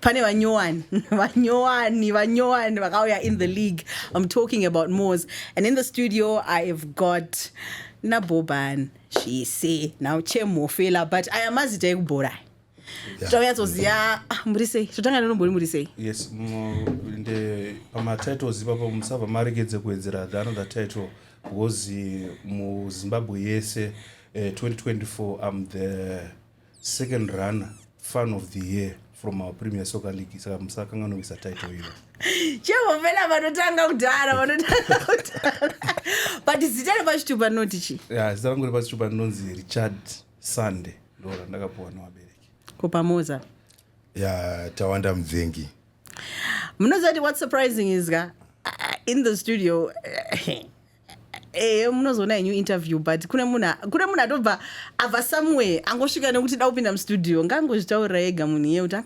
pane vanyowani vanyowani vanyowani vakauya in the league i'm talking about mos and in the studio i have got naboban zvise now chemhofela but aya mazita ekubhora taunyatsoziva ah, muri sei totanga nenombori muri sei yes pamatitles ipapo musabva marekedze kuwedzera the another title because muzimbabwe yese uh, eh, 2024 i'm the second runner fan of the year from our premier soccer league saka musakanganowisa title iyo chehovela vanotanga kudhara vanotanga kudhara but zita repachitupa rinoti chi ya zita rangu repachitupa rinonzi richard sunday ndo randakapuwa nevabereki kupamoza ya tawanda mubvengi munoziva kuti what surprising is ka uh, in the studio uh, ehe munozoona henyu interview but kune munhu kune munhu atobva abva somewhere angosvika nekuti da kupinda mustudio ngaangozvitaurira ega munhu iye kuti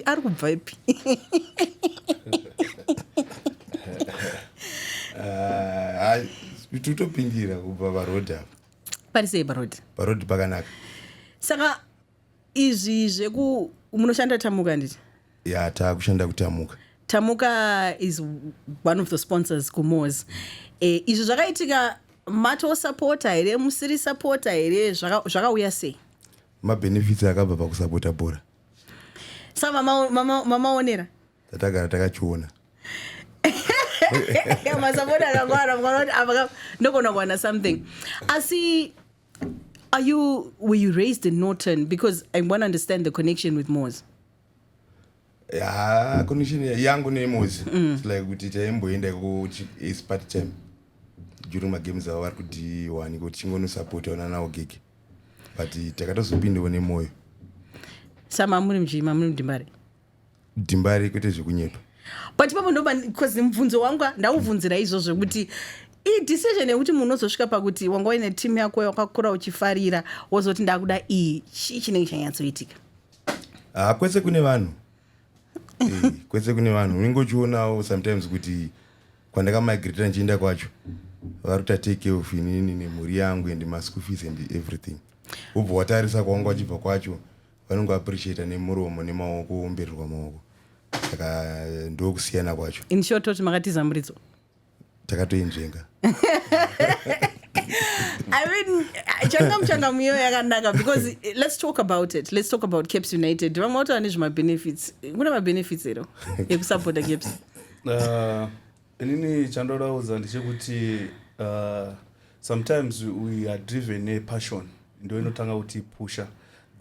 ari kubva ipi ah, totopindira kubva parod apa pari sei parod parod pakanaka saka izvi zveku munoshanda tamuka handiti ya taakushanda kutamuka tamuka is one of the sponsors kumos e, eh, izvi zvakaitika matosapota here musiri sapota here zvakauya sei mabhenefits akabva pakusapota bhora sa mamaonera tatagara takachiona masapota akangwara mwana kuti ndogona kuwana something asi Are you, were you raised in Norton? Because I want to understand the connection with Moz. Yeah, connection yangu ne Moz. Mm. It's like kuti taimboenda ku is part time. During my games awa vari kuti wani kuti chingono support ona nawo gig. But takatozopindawo nemoyo. Sama muri mjima muri mdimbare. dimbari kwete zvekunyepa but ipapo ndoba bcause mubvunzo wangu ndaubvunzira izvozvo kuti idecision yekuti munhu unozosvika pakuti wanga uine team yako wakakura uchifarira wozoti ndakuda iyi chii chinenge chanyatsoitika haa ah, kwese kune vanhu eh, kwese kune vanhu unenge uchionawo sometimes kuti kwandakamigrata ndichienda kwacho vari kuta take care of inini nemhuri yangu and maschool fees and everything ubva watarisa kwawanga wachibva kwacho vanongo appreciate nemuromo nemaoko womberirwa maoko saka ndokusiyana kwacho in short toti makatiza muridzo takatoinzvenga I mean, changa muchanga muyo yakanaka because eh, let's talk about it. Let's talk about Caps United. Vamwe watu ane zvima benefits. Kuna ma benefits ero yekusupporta Caps. Uh, inini chandoda kuudza ndechekuti uh, sometimes we are driven nepassion ndo inotanga kuti pusha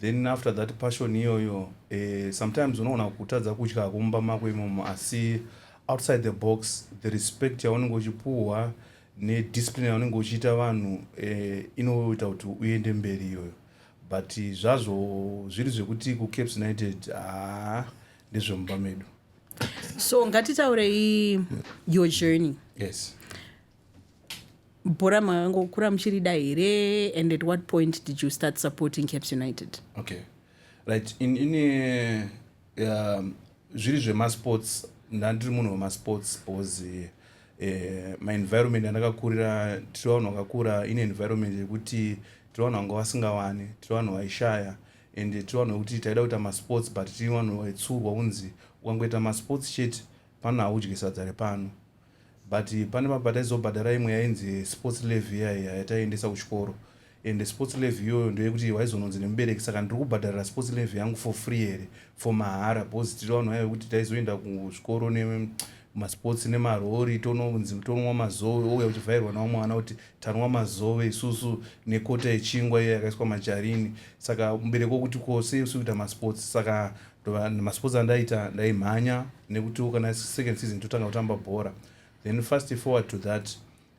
then after that passion iyoyo eh, sometimes unoona kutadza kutya kumba mako imomo asi outside the box the respect yaunenge uchipuhwa nediscipline yaunenge uchiita vanhu eh, inoita kuti uende mberi iyoyo but zvazvo zviri zvekuti kucaps united haa ah, ndezvemumba medu so ngatitaurei your journey yes bhora makangokura muchirida here and at what point did you start supporting caps united okay right in, in uh, um, zviri zvemasports ndandiri munhu wemasports because uh, eh, maenvironment andakakurira tiri vanhu vakakura ine environment yekuti tiri vanhu vanga vasingawani tiri vanhu vaishaya and tiri vanhu vekuti taida kuita masports but tiri vanhu vaitsurwa kunzi ukangoita masports chete pano haudye sadza repano but pane vamwe pataizobhadhara imwe yainzi sports levy yaiya yataiendesa kuchikoro and sports levy iyoyo ndoyekuti waizononzi nemubereki saka ndiri kubhadharira sports levy yangu for free here for mahara because tiri vanhu vaive kuti taizoenda kuzvikoro masports nemarori tononzi tonwa mazove ouya uchivhairwa nawo mwana kuti tanwa mazove isusu nekota yechingwa iyo yakaiswa majarini saka mubereki wokuti ko sei usiri kuita masports saka masports andaita ndaimhanya nekutiwo kana second season totanga kutamba bhora then fast forward to that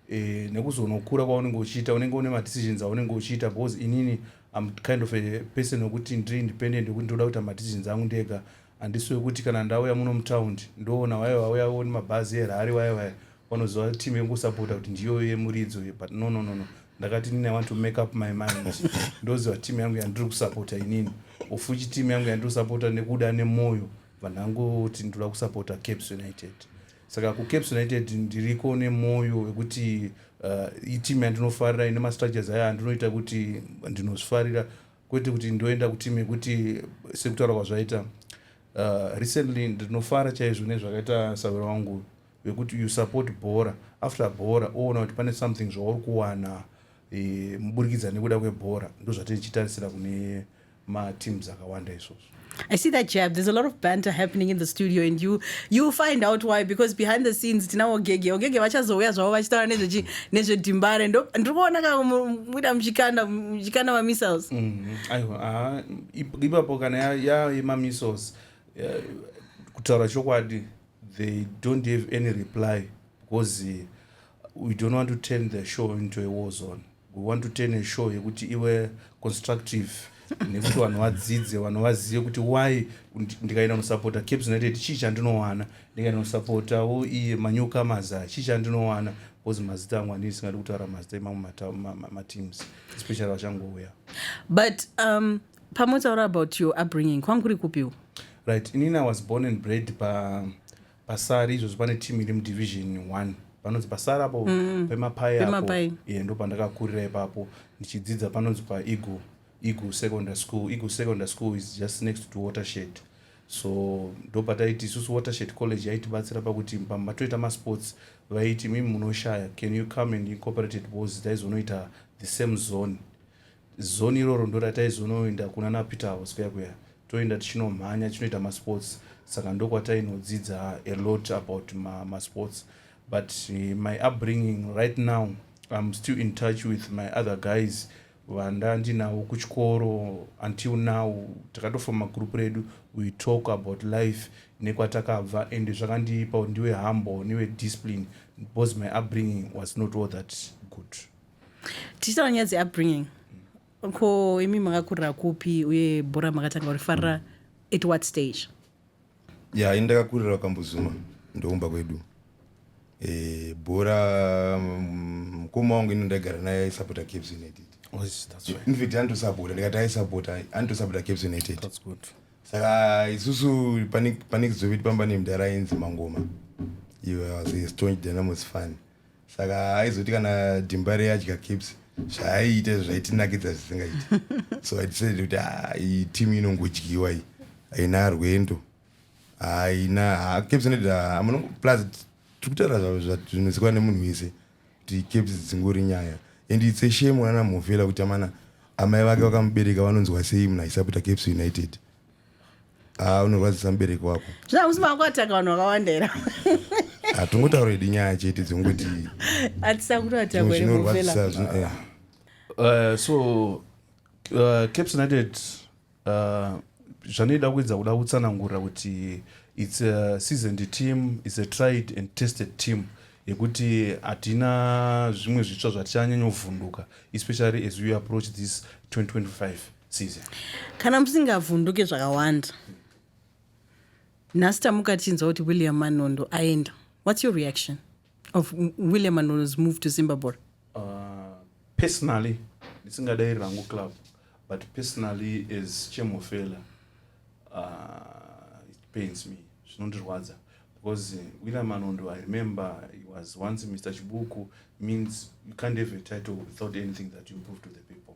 eh, nekuzonokura kwaunenge uchiita unenge une madecisions aunenge uchiita because inini am kind of a person wekuti ndiri independent wekuti ndoda kuita madecisions angu ndega handisi wekuti kana ndauya muno mutaundi ndoona waye vauya oni mabhazi erhari waye waye vanoziva team yekusapota kuti ndiyoyo yemuridzo but no no no no ndakati inini i want to make up my mind ndoziva team yangu yandiri kusapota inini ofuchi team yangu yandiri kusapota nekuda nemwoyo vanhangu kuti ndoda kusapota caps united saka kucaps united ndiriko nemwoyo wekuti uh, itimu yandinofarira ine mastructures ayo andinoita kuti ndinozvifarira kwete kuti ndoenda kutimu yekuti sekutaura kwazvaita uh, recently ndinofara chaizvo nezvakaita savira wangu vekuti you support bhora after bhora oona kuti pane something zvauri kuwana e, muburikidza nekuda kwebhora ndozvatiri chitarisira kune mateams akawanda izvozvo I see that jab. There's a lot of banter happening in the studio, and you you find out why because behind the scenes tina ogege ogege vachazouya zvavo vachitaura nezvechi nezvedimbare ndo ndiri kuona ka muita muchikanda muchikanda mamissiles. Mm-hmm. Aiwa ah, ipapo kana yaema missiles eh, kutaura chokwadi they don't have any reply because eh, we don't want to turn the show into a war zone. We want to turn a show yekuti iwe constructive nekuti vanhu vadzidze vanhu vazive kuti why ndikaenda nosapota caps united chii chandinowana ndikaenda nosapota wo iye manyoka maza chii chandinowana bcause mazita angu andii singadi kutaura mazita emamwe mateams especially vachangouya but um, pamotaura about your upbringing kwangu kuri kupiwo right inini i was born and bred pa Pasari izvozvo pane team iri mudivision one panonzi pasari apo mm. pemapai apo yeah, ndo pandakakurira ipapo ndichidzidza panonzi paeagle eagle secondary school eagle secondary school is just next to watershed so ndo pataiti isusu watershed college yaitibatsira pakuti pamba toita masports vaiti mimi munoshaya can you come and incorporated bos taizonoita the same zone Zone iroro ndorataizonoenda kuna naPeter house kuya kuya toenda tichinomhanya tichinoita masports saka ndokwatainodzidza a lot about masports ma but eh, my upbringing right now im still in touch with my other guys vandandinawo kuchikoro until now takatofoma group redu we talk about life nekwatakabva and zvakandipa ndiwe humble newe discipline because my upbringing was not all that good tichitaura nyaya dzeupbringing ko imi makakurira kupi uye bhora makatanga kurifarira at what stage ya yeah, ini ndakakurira kambuzuma ndoumba kwedu e, bhora mm, mukoma wangu ini ndaigara naye aisapota caps united infact anotosapota ndikati aisapota anotosapota caps united saka isusu panekizoveti pamba nemdara ainzi mangoma iwe was a staunch dynamos fan saka aizoti kana dimbare adya caps zvaaiita izvo zvaitinakidza zvisingaiti so idecided kuti ah, iyi team inongodyiwa iyi haina rwendo haina caps inoita plus tiri kutaura zvinozikwa nemunhu wese kuti caps dzingori nyaya and its a shame unana mhofela kuti amana amai vake vakamubereka vanonzwa sei munhu aisaputa caps united Ah, unorwadzisa mubereki wako zvina musi mako ataka vanhu vakawanda era hatingotaura idi nyaya chete dzongoti atisakuru atako ere muvela zvinorwadzisa eh. Uh, so uh, caps united uh, zvanoida kuedza kuda kutsanangura kuti its a seasoned team its a tried and tested team yekuti hatina zvimwe zvitsva zvatichanyanyovhunduka especially as we approach this 2025 kana musingavhunduke zvakawanda nhasi tamuka tichinzwa kuti william manondo aenda what's your reaction of william manondo's move to zimbabwe uh, personally ndisingadairi rangu club but personally as chemofela uh, it pains me zvinondirwadza because william manondo i remember he was once mr chibuku means you can't have a title without anything that you prove to the people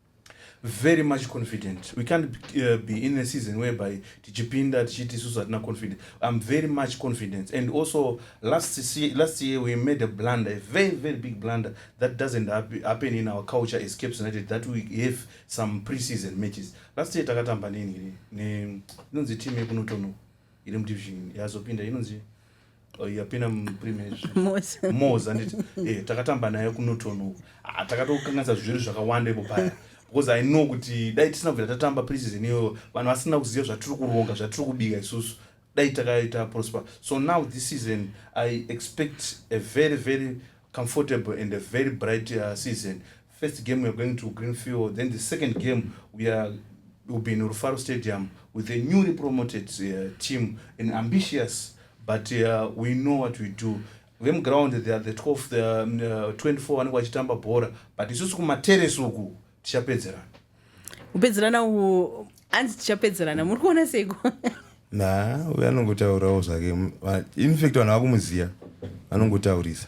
very much confident we can't uh, be in a season whereby tichipinda tichiti isusu hatina confident i'm very much confident and also last year, last year we made a blunder a very very big blunder that doesn't happen in our culture as caps united that we have some pre-season matches last year takatamba neni inonzi team yekunotono iri mudivision yazopinda inonzi Oh, yapinda muprimesmos anditi eh, takatamba naye kunotonoku ah, takatokanganisa zviri zvakawanda ipo paya because i know kuti dai tisina kubvira tatamba preseason iyoyo vanhu vasina kuziva zvatiri kuronga zvatiri kubika isusu dai takaita prosper so now this season i expect a very very comfortable and a very bright uh, season first game weare going to green field then the second game weare will be in rufaro stadium with a newly promoted uh, team an ambitious but uh, we know what we do vemuground the, the 12 the, um, uh, 24 vanenge vachitamba bhora but isusu kumateresi uku tichapedzerana kupedzerana uku hanzi tichapedzerana muri kuona seiko na uyo anongotaurawo zvake infact vanhu vakumuziva vanongotaurisa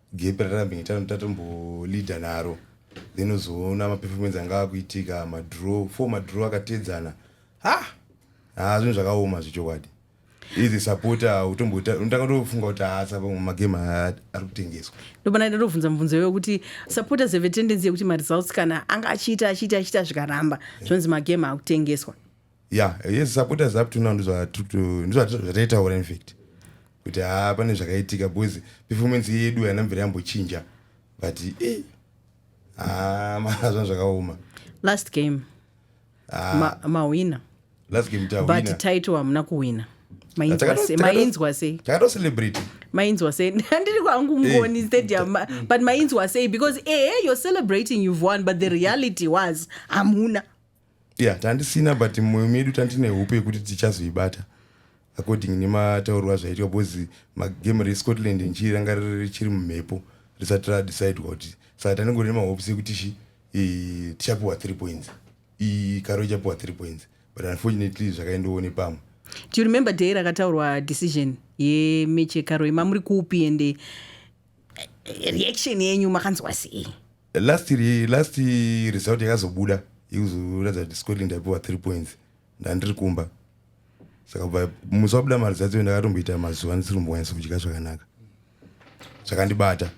gepi ratambi tatomboleader naro then uzoona maperformance anga akuitika madraw four madraw akateedzana ha ha zvinhu zvakaoma zvechokwadi izi supporter utombotanga tofunga kuti haasa pamwe magame ari kutengeswa ndobana ida tobvunza mubvunzo iwe kuti supporters have a tendency yekuti maresults kana anga achiita achiita achiita zvikaramba zvonzi magame akutengeswa Yeah, yes, supporters up to now ndizvo zvataitaura infact kuti haa ah, pane zvakaitika because performance yedu haina mvere yambochinja but eh, haa ah, marazvana zvakaoma last game ah. mahwina last game tawina but title hamuna kuwina mainzwa sei takatocelebrate mainzwa sei handiri kwangu ngoni eh. stadium but mainzwa sei because ehe eh, you're celebrating you've won but the reality was hamuna ya tandisina but mumwoyo medu tandine hope yekuti tichazoibata according nemataurwa zvaitwa because magame rescotland ndichii ranga richiri mumhepo risati radecidwa kuti saka tanengori nemahopes ekuti shi eh, tichapiwa three points iyi karo ichapiwa three points but unfortunately zvakaendowo nepamwe do you remember day rakataurwa decision yemechi yekaro yema muri kupi ende eh, reaction yenyu makanzwa sei last last result yakazobuda yekuzoratidza kuti scotland yaipiwa three points ndandiri kumba saka bva musi wabuda mari dzadzo ndakatomboita mazuva ndisiri kumbonyatsa kudya zvakanaka zvakandibata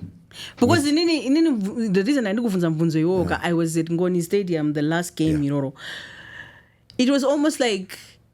because inini inini the reason andikubvunza mubvunzo iwowo ka i was at ngoni stadium the last game iroro it was almost like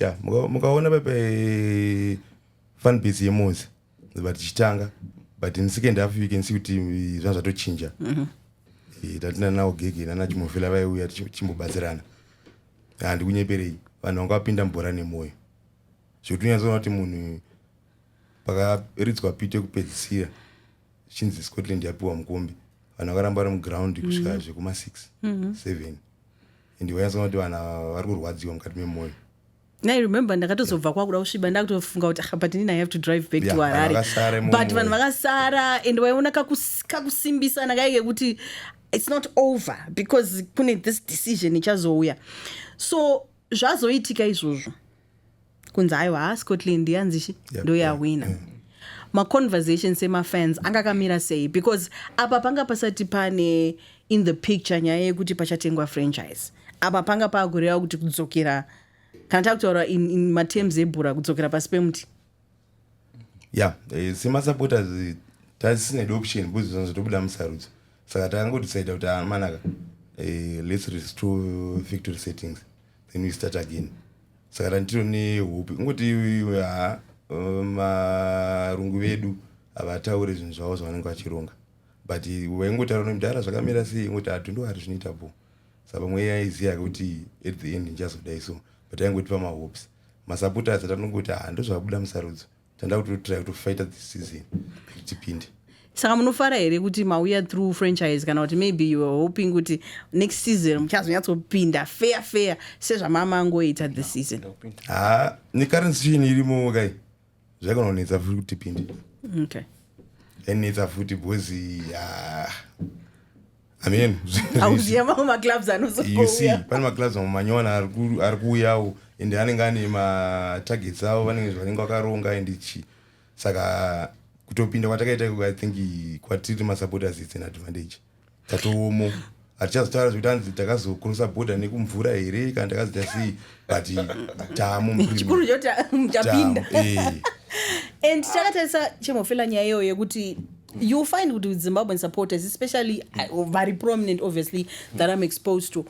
ya mukaona pepe eh, fan base yemozi but tichitanga but in second half you can see kuti eh, zvanga zvatochinja mhm. eh, tatina nawo gege nana chimofela vaiuya tichimbobatsirana handikunyeperei vanhu vanga vapinda mubhora nemwoyo zvekuti unyatsoona kuti munhu pakaridzwa pito yekupedzisira chinzi scotland yapiwa mukombe vanhu vakaramba vari muground kusvika mm. zvekuma 6 7 mm-hmm. and wanyatsoona kuti vanhu ava vari kurwadziwa mukati memoyo I remember ndakatozobva kwakuda kusviba ndakutofunga kuti ah, but inini i have to drive back yeah, to harare but vanhu vakasara and waiona kakusimbisana kaye kekuti it's not over because kune this decision ichazouya so zvazoitika izvozvo kunzi aiwa ha scotland yanzishi yep, ndoyahwina yeah, yeah. maconversation semafans anga akamira sei because apa panga pasati pane in the picture nyaya yekuti pachatengwa franchise apa panga paakureva kuti kudzokera kana takutaura in, in materms ebhura kudzokera pasi pemuti ya eh, semasupporters tasisine option because zvinhu zvatobuda musarudzo saka takangodecide kuti amanaka ah, eh, let's restore victory settings then we start again saka tandiro nehope ingoti ha eh, marungu vedu havataure zvinhu zvavo zvavanenge vachironga but waingotaura nemdhara zvakamira sei ingoti atundu ah, ari zvinoita po saka pamwe yaiziva kuti at the end ndichazodai so but aingotipa mahopes masupporters atanongoti ha ndozvabuda musarudzo tanda kuti totry to fighter this season kuti tipinde saka munofara here kuti mauya through franchise kana kuti maybe you are hoping kuti next season muchazonyatsopinda fair fair sezvamamangoita this season ha necurrent situation irimo kai zvaikanonetsa futi kuti pindi okay. enetsa futi bhozi ya amen auziva mamwe maclubs anozouya pane maclubs mamwe manyowani ari kuuyawo and anenge ane matargets avo vanenge zvavanenge vakaronga and chi saka kutopinda kwatakaita i think kwatiri masupporters its an advantage tatoomo hatichazotaura zvekuti anzi takazokurusa bhodha nekumvura here kana takazoita sei but tamo chikuru choti muchapinda eh. and takatarisa chemofela nyaya iyoyo yekuti you find kuti zimbabwean supporters especially uh, very prominent obviously that i'm exposed to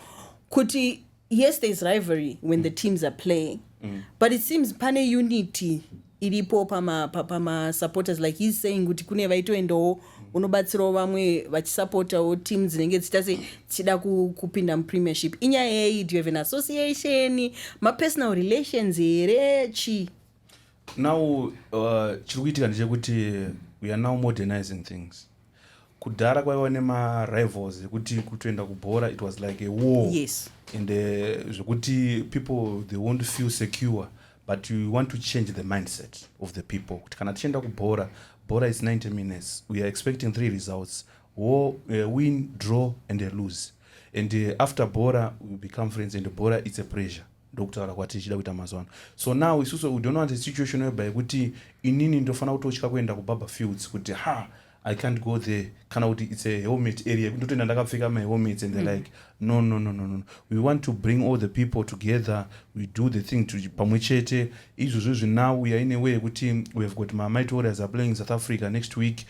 kuti yes there is rivalry when mm. the teams are playing mm. but it seems pane unity iripo pamasupporters pama like heis saying kuti kune vaitoendawo unobatsirawo vamwe vachisupportawo team dzinenge dzichita se dzichida kupinda mupremiership inyaya yei do you have an association mapersonal relations here chii now uh, chiri kuitika ndechekuti we are now modernizing things kudhara kwaiva nemarivals ekuti kutoenda kubhora it was like a war yes. and uh, zvekuti people they won't feel secure but you want to change the mindset of the people kuti kana tichienda kubhora bhora is 90 minutes we are expecting three results war, uh, win draw and a lose and uh, after bhora we become friends and bhora it's a pressure ndokutaura kwatiri chida kuita mazuva ano so now isusu we don't want a situation whereby yekuti inini ndofanira kutotya kuenda kubaba fields kuti ha i can't go there kana kuti its a helmet area yekuti ndotoenda ndakapfeka mahelmets and the mm. like no no no no no we want to bring all the people together we do the thing to pamwe chete izvozvo zvinawu yaine way yekuti we have got mamite warriors are playing south africa next week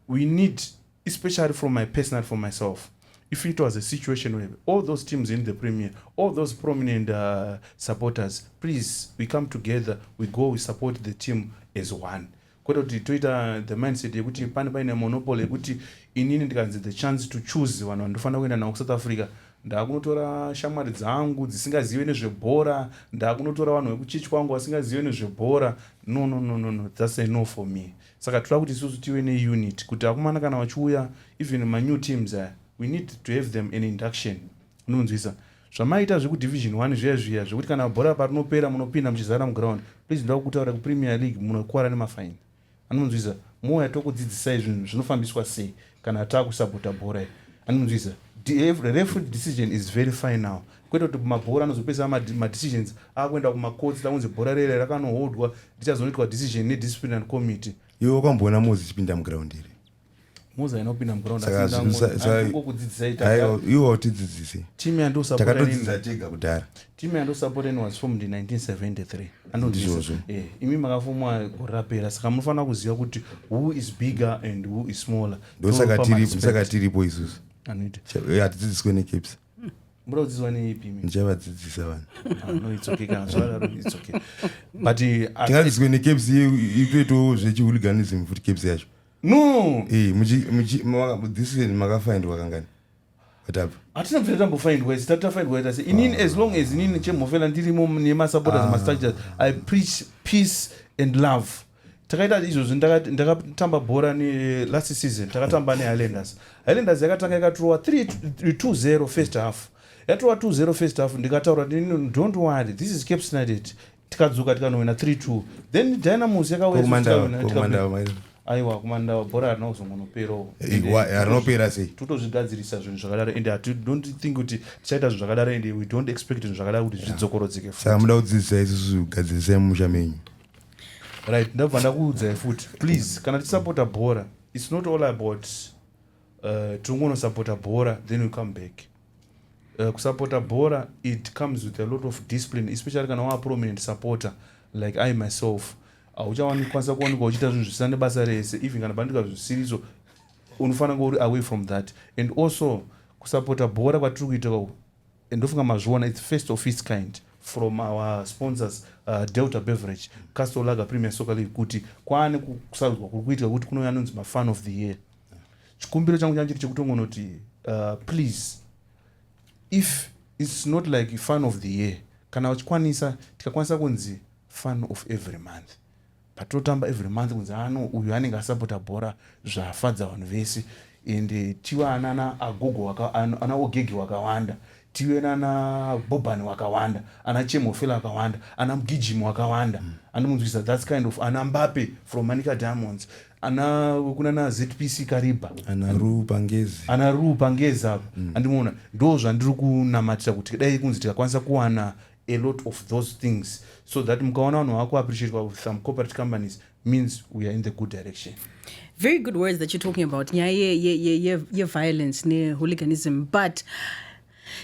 we need especially from my personal for myself if it was a situation where all those teams in the premier all those prominent uh, supporters please we come together we go we support the team as one kwete kuti toita the mindset yekuti pane paine monopoly yekuti inini ndikanzi the chance to choose vanhu vandofanira kuenda navo kusouth africa ndakunotora shamwari dzangu dzisingazive nezvebhora ndakunotora vanhu vekuchechi kwangu vasingazive nezvebhora no no no no no thats enough for me Saka toda kuti isusu tive ne unit kuti akomana kana vachiuya even ma new teams aya we need to have them an induction unonzwisa zvamaita zveku division one zviya zviya zvekuti kana bhora parinopera munopinda muchizara muground please ndoda kutaura kupremier league munokuvara nemafine anonzwisa mouya tokudzidzisai zvinhu zvinofambiswa sei kana takusapota bhora iri anonzwisa referee decision is very final kwete kuti mabhora anozopedza madecisions akuenda kumakotsi takunzi bhora rere rakanohodwa richazonoitwa decision nedisciplinary committee iwe wakamboona mozi ichipinda muground iri mozi aina kupinda mugroundiwotidzidzise timu yandiusapotaiwo kudzidzisa tega kudhara Team yandosapota ino was formed in 1973 anonzvizvo eh, imi makafumwa gore rapera saka munofanira kuziva kuti who is bigger and who is smaller ndosaka tiripo isusu hatidzidziswe necaps muda kudzidziswa neipi ndichavadzidzisa vanhu ah, no it's okay kana zvadaro it's okay but tingadzidziswe necaps itoitawo zvechihuliganism futi caps yacho no eh, muchidhisiseni makafindwa kangani hatina kuita tambofaindwa isi tati tafaindwa ita se inini as long as inini chemhofela ndirimo nemasupporters ah. mastructures i preach peace and love takaita izvozvi ndakatamba bhora nelast season takatamba nehighlanders highlanders yakatanga yakaturowa 320 first half yatova 20 first half ndikataura don't worry this is cape snidet tikadzoka tikanowina 32 then dynamos yakauyaiwa kumandawa bhora harina kuzongonoperawo harinopera eh, sei totozvigadzirisa zvinhu zvakadaro and don't think kuti tichaita zvinhu zvakadaro and we don't expect zvinhu zvakadaro kuti zvidzokorodzeke saka muda kudzidzisa isusu kugadzirisai mumusha menyu right ndabva ndakuudzai futi please kana tisapota bhora it's not all about Uh, tinongonosapota bhora then we come back uh, kusapota bhora it comes with a lot of discipline especially kana waa prominent supporter like i myself hauchawanikwanisa kuwanikwa uchiita zvinhu zvisina nebasa rese even kana pandika zvisiriso unofanira kunge uri away from that and also kusapota bhora kwatiri kuita kwako ndofunga mazviona its first of its kind from our sponsors uh, delta beverage castle lager premier soccer league kuti kwaane kusarudzwa kuri kuitika kuti kunouya anonzi mafan of the year chikumbiro changu changa chiri chekutongonoti uh, please if its not like fun of the year kana vachikwanisa tikakwanisa kunzi fun of every month patotamba every month kunzi ano uyu anenge asapota bhora zvafadza vanhu vese ende tiwa anana agogo anaogege wakawanda Tive nana Bobani wakawanda, ana Chemofela wakawanda, ana Mgijimi wakawanda. Andimunzwisa that's kind of ana Mbappe from Manica Diamonds. Ana kunana ZPC Kariba. Ana Ru Pangezi. Ana Ru Pangezi avo. Mm. Andimuona. Ndo zvandiri kunamatira kuti dai kunzi tikakwanisa kuwana a lot of those things so that mukaona vanhu vakuappreciate some corporate companies means we are in the good direction very good words that you're talking about nyaya yeviolence nehooliganism but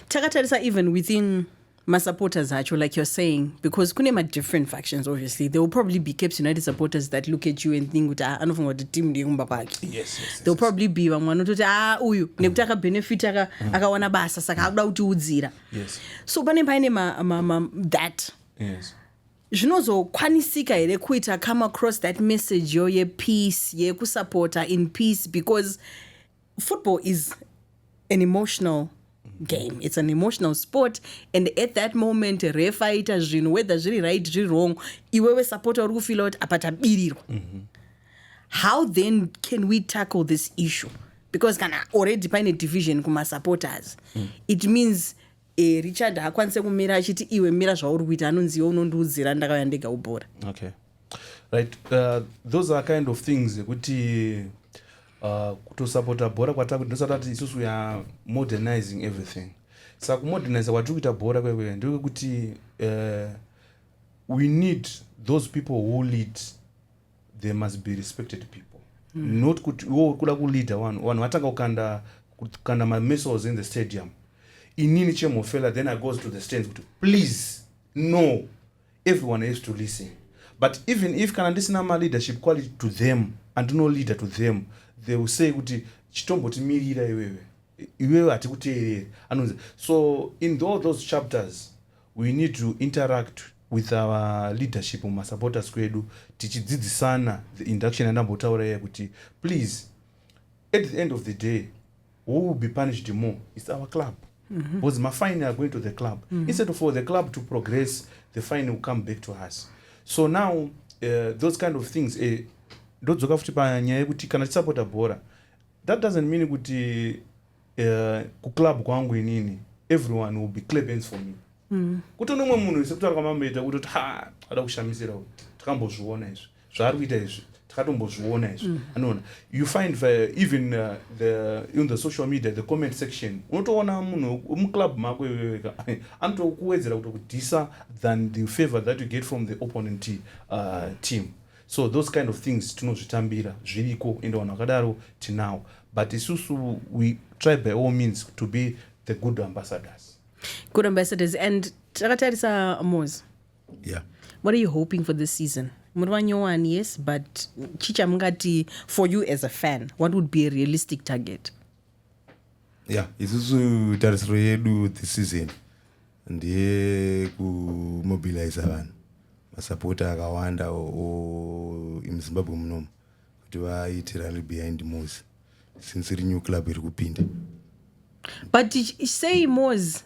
takatarisa even within masupporters acho like you're saying because kune madifferent factions obviously there will probably be caps united supporters that look at you and think kuti ah, anofunga kuti team ndeyekumba kwake there will probably be vamwe vanototi a ah, uyu nekuti akabenefit mm. akawana basa saka akuda kutiudzira so pane paine that yes. Zvinozokwanisika here kuita come across that message yo yepeace yekusupporta in peace because football is an emotional game it's an emotional sport and at that moment ref aita zvinhu whether zviri right zviri wrong iwewe supporter uri kufila kuti apa tabirirwa mm -hmm. how then can we tackle this issue because kana already paine division kumasupporters mm. it means Eh, richard haakwanise kumira achiti iwe mira zvauri kuita anonzi iwe unondiudzira ndakauya ndega ubhora okay right uh, those are kind of things ekuti uh, kutosapota bhora kwatakuti ndosati ati isusu we are modernizing everything saka kumoderniza kwatiri kuita bhora kwekwe ndekwekuti uh, we need those people who lead there must be respected people mm. not kuti iwo uri kuda kuleader vanhu vanhu vatanga kukanda kukanda mamissiles in the stadium inini chemhofela then i goes to the stands kuti please no everyone has to listen but even if kana ndisina maleadership quality to them andino leader to them they will say kuti chitombotimirira iwewe iwewe hatikuteereri anonzi so in all those chapters We need to interact with our leadership mumasupporters kwedu tichidzidzisana the induction yandambotaura iya kuti please at the end of the day who will be punished more its our club mm -hmm. because mafine are going to the club mm -hmm. instead of for the club to progress the fine will come back to us so now uh, those kind of things eh, ndodzoka futi panyaya yekuti kana tisapota bhora that doesn't mean kuti uh, kuclub kwangu inini everyone will be clap hands for me mm. kuto nomwe munhu wese kutaura kwamamboita kutoti ha ada kushamisira u takambozviona izvi zvaari kuita izvi takatombozviona izvi mm. anoona you find the, uh, even uh, the, in the social media the comment section unotoona munhu muclub mako iyoyoka anotokuwedzera kutokudhisa than the favor that you get from the opponent uh, team So those kind of things tinozvitambira zviriko ende vanhu vakadaro tinawo but isusu we try by all means to be the good ambassadors. Good ambassadors and takatarisa Moz. Yeah. What are you hoping for this season? muri vanyowani yes but chii chamungati for you as a fan what would be a realistic target ya yeah, isusu tarisiro yedu this season ndeyekumobilizer vanhu masapota akawanda muzimbabwe munomu kuti vaite rally behind mos since iri new club iri kupinda but sei mos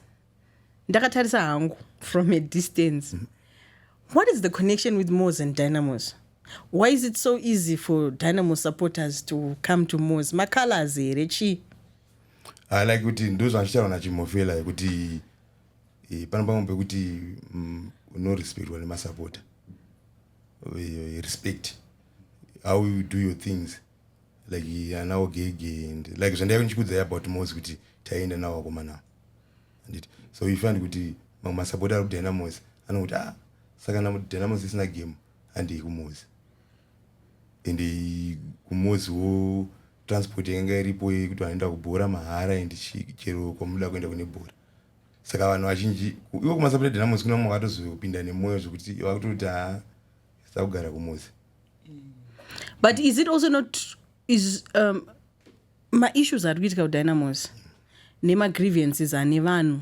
ndakatarisa hangu from a distance mm. what is the connection with mos and dynamos why is it so easy for dynamo supporters to come to mos macolors here chii ah, like kuti ndozvazvichava nachimofela yekuti eh, pano pamwe pekuti mm, unorespectwa nemasapota eh, respect how you do your things like anawo gege and like zvandaive ndichikudza about mos kuti taienda nawo akomana anditi so you find kuti mamwe masapota ari kudynamos anokuti ah saka dynamos isina game handei kumosi and kumozi wo transport yanga iripo yekuti vanoenda kubhora mahara and chero kwamunoda kuenda kune bhora saka vanhu vazhinji ivo kumasapred namozi kuna mwe vakatozopinda nemwoyo zvekuti vakutoti ha sakugara kumozi but is it also not is um, maissues ari kuitika kudynamos nemagrievances ane vanhu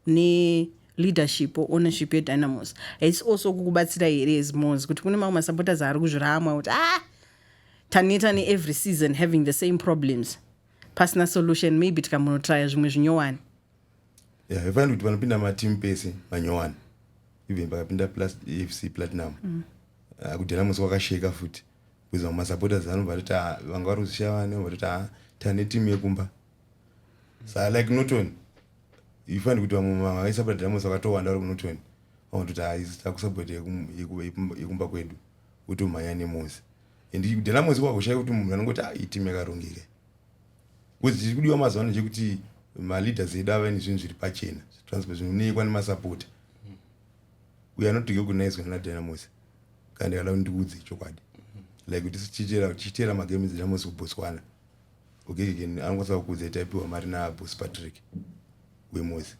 neleadership or ownership yedynamos haisi also kukubatsira here as mos kuti kune mamwe masupporters ari kuzviramwa kuti ah taneta neevery season having the same problems pasina solution maybe tikambonotraya zvimwe zvinyowani yeah, ifanira kuti panopinda matimu pese manyowani even pakapinda plus fc platinum mm. uh, ah, kudynamos kwakasheka futi because vamwe masupporters anobva atoti ah, vanga vari kuzvishaya vane vatoti ah, tane timu yekumba sa like norton you find kuti vamwe mama vaisabata diamonds vakatowanda vari kunorton vamwe kuti takusabata yekumba kwedu utomhanya nemosi and diamonds kwakushaya kuti munhu anongoti ah, itim yakarongeka bcause chiri kudiwa mazuva ano chekuti maleaders edu ava ine zvinhu zviri pachena zvitranspo zvinoonekwa nemasapota uye anotike kunaizwa nana diamonds kana ndikada kuti ndiudze chokwadi like kuti tichiteera magame dzedinamos kubotswana Okay, can angotsa kukudzai taipiwa mari na boss Patrick wemozi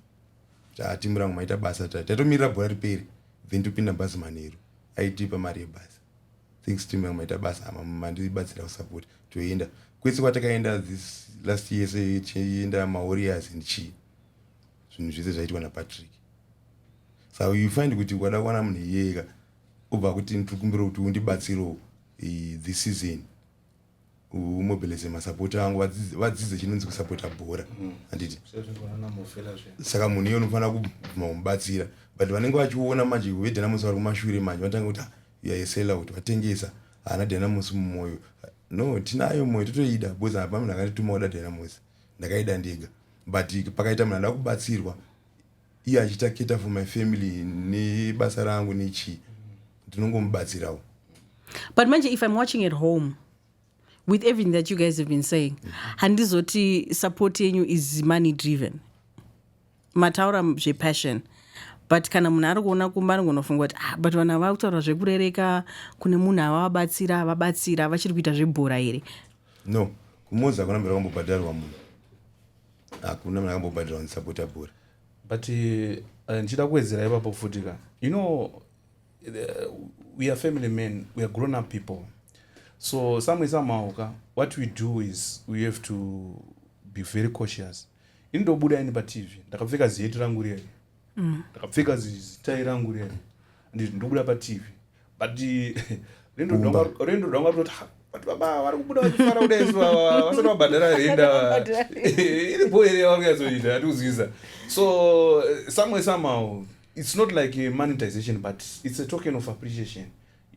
tati murango maita basa tati taitomirira bhora riperi then topinda bhazi manheru aitipa mari yebhazi thanks team yangu maita basa ama mandibatsira kusapota toenda kwese kwatakaenda this last year se tichienda mawarriors and chii zvinhu zvese zvaitwa napatrick so you find kuti ukada kuwana munhu iyeyeka obva kuti ndiri kumbira kuti undibatsirewo eh, this season umobilize masapota angu vadzidze chinonzi kusapota bhora mm. handiti saka munhu iye unofanira kubvuma kumubatsira but vanenge vachiona manje vedynamosi vari kumashure manje vanotanga kuti yaesela kuti vatengesa haana dynamosi mumwoyo no tinayo mwoyo totoida because hapa munhu akandituma kuda dynamosi ndakaida ndega but pakaita munhu ada kubatsirwa iye achiita cater for my family nebasa rangu nechii ndinongomubatsirawo but manje if i'm watching at home with everything that you guys have been saying handizoti support yenyu is money driven mataura zvepassion but kana munhu ari kuona kumba anongonofunga kuti ah, but vanhu vava kutaura zvekurereka kune munhu avavabatsira avabatsira vachiri kuita zvebhora here no kumozi akuna mbira kwambobhadharwa munhu hakuna munhu akambobhadhirwa ndisapota bhora but eh, ndichida uh, kuwedzera ipapo futi ka you know uh, we are family men we are grown up people so samwe somehow ka what we do is we have to be very cautious ini ndobuda ini patv ndakapfeka ziheti rangu riye mm. ndakapfeka zitai rangu riya anditi ndobuda patv but rendo rwanga rutoti but baba vari kubuda vachifara kuda isu ava vasati vabhadhara renda iri bho here yavari kunyatsoita atiuzwiza so someway somehow it's not like a monetization but it's a token of appreciation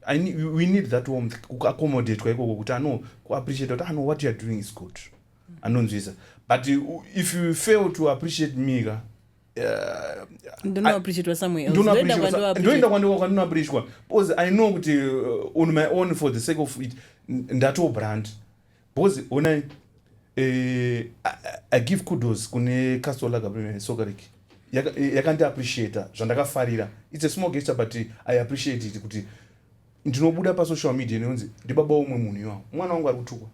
I need, we need that warmth kuaccommodatwa ikoko kuti ano kuappreciate kuti ano what youare doing is good anonzwisa but if you fail to appreciate me ka ndonoappreciatwasamuelndoenda kwandiwa kwandinoappreciatwa because i know kuti uh, on my own for the sake of it ndatoo brand because onai eh, i give kudos kune castle lagabrime sokarik yakandiappreciata yaka zvandakafarira its a small gesture but i appreciate it kuti ndinobuda pasocial media neunzi ndibaba umwe munhu iwawo mwana wangu ari kutukwa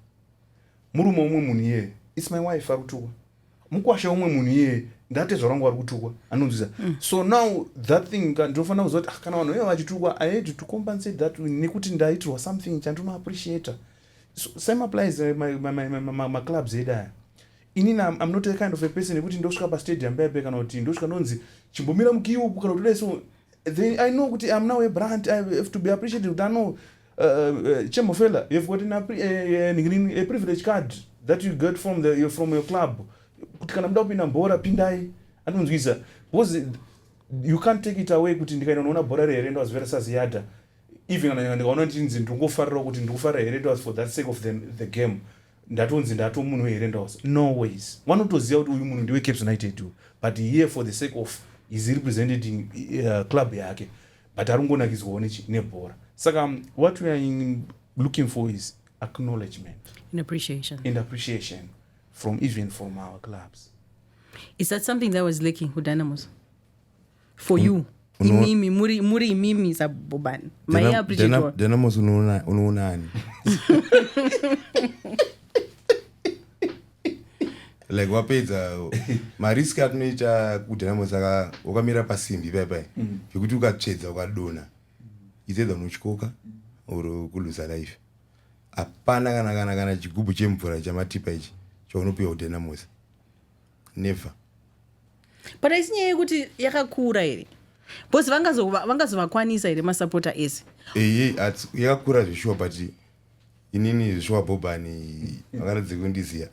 murume umwe munhu iyeye its my wife ari kutukwa mukwasha umwe munhu iye ndatezvara wangu vari kutukwa anonzwisa mm. so now that thing ndinofanira kuziva kuti ah, kana vanhu vaiva vachitukwa i had to compensate that nekuti ndaitirwa something chandinoappreciata so same applies eh, maclubs edu aya inini am not a kind of a person yekuti ndosvika pastadium paipe kana kuti ndosvika ndonzi chimbomira mukiuku kana kuti dai so then i know kuti am now a brand i have to be appreciated kuti ano Uh, uh, uh Chamber fella, you've got an, a, a, a, a privilege card that you got from, the, from your club. Kuti kana muda kupinda mbora, pindai. Anonzwisa. Because you can't take it away kuti ndikaenda unoona bhora rehere ndo azivera saziyada even kana ndikaona ndichinzi ndingofarira kuti ndikufara here ndos for that sake of the, the game ndatonzi ndato munhu here ndos no ways wanotoziva kuti uyu munhu ndiwe caps united but here for the sake of is representing uh, club yake but ari kungonakidzwawo nebhora saka um, what we are looking for is acknowledgement and appreciation, and appreciation from even from our clubs is that something that was lacking kudynamos for you imimi muri, muri imimi sabobani maiappreciatedynamos unoonani like wapedza marisk atinoita kudrama saka wakamira pasimbi paipai mm. zvekuti mm. ukatsvedza ukadona itsedza unotyoka or kuluza life hapana kana kana kana chigubhu chemvura chamatipa ichi chaunopiwa kudynamosa never but aisi nyaya yekuti yakakura here bcause vangazovakwanisa here masapota ese eye yakakura zveshuwa but inini zvishuwa bhobhani vakaratidze kundiziva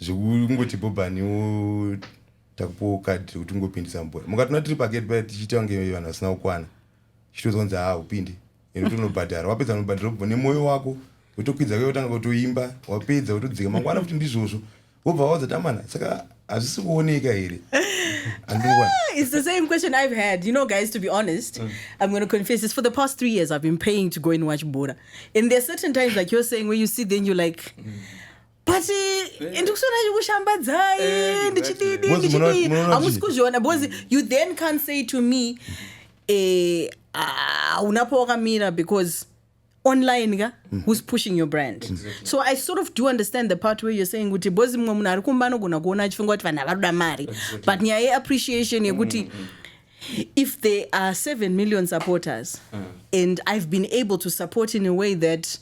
zvekungoti bhobhani wo takupiwo kadhi rekuti ungopindisa mubhora mukatona tiri pageti paya tichiita kunge vanhu vasina kukwana chitozo kunzi haa upinde ende utonobhadhara wapedza unobhadhara ubvo nemwoyo wako wotokwidza kuye wotanga kutoimba wapedza wotodzika mangwana futi ndizvozvo wobva waudza tamana saka hazvisi kuoneka here it's the same question i've had you know guys to be honest mm. i'm going to confess this for the past three years i've been paying to go and watch bora and there's certain times like you're saying where you see then you're like mm. but eh, ndikushona chikushambadzai eh, ndichididi ndichidii hamusi kuzviona because you then can't say to me eh, ah, unapo wakamira because online ka mm -hmm. who's pushing your brand exactly. so i sort of do understand the part where you're saying kuti bhozi mumwe munhu ari kumba anogona kuona achifunga kuti vanhu havanoda mari exactly. but nyaya yeappreciation yekuti mm -hmm if there are 7 million supporters mm. and i've been able to support in a way that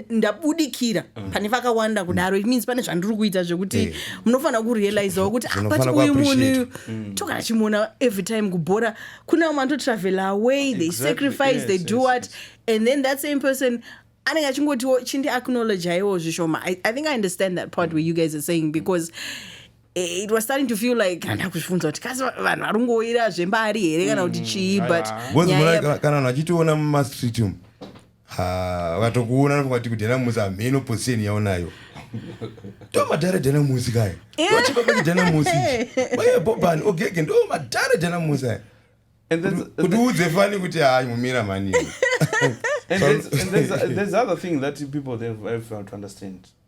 ndabudikira nda mm. pane vakawanda mm. kudaro it means pane zvandiri kuita zvekuti hey. Eh. munofanira kurealizawo kuti apati ah, uyu munhu mm. tokana chimuona every time kubhora kune vamwe vanototravel away they exactly. sacrifice yes, they do yes, what yes. and then that same person anenge achingotiwo chindi acknowledge aiwo zvishoma I, i think i understand that part where you guys are saying because eh, it was starting to feel like handa kuzvifunza kuti kasi vanhu vari kungoira zvembari here kana kuti chii mm, but kana vanhu vachitiona mumastreet umu Ha, vatokuona ndipo vati kudela muzi hameno position yaonayo. Ndo madhara dela muzi kaya. Wachibaba kudela muzi. Waye bobani ogege ndo madhara dela muzi aya. And there's, and Kuti there's, udze fani kuti hayi mumira mani. and there's, and there's, there's other thing that people they have, have to understand.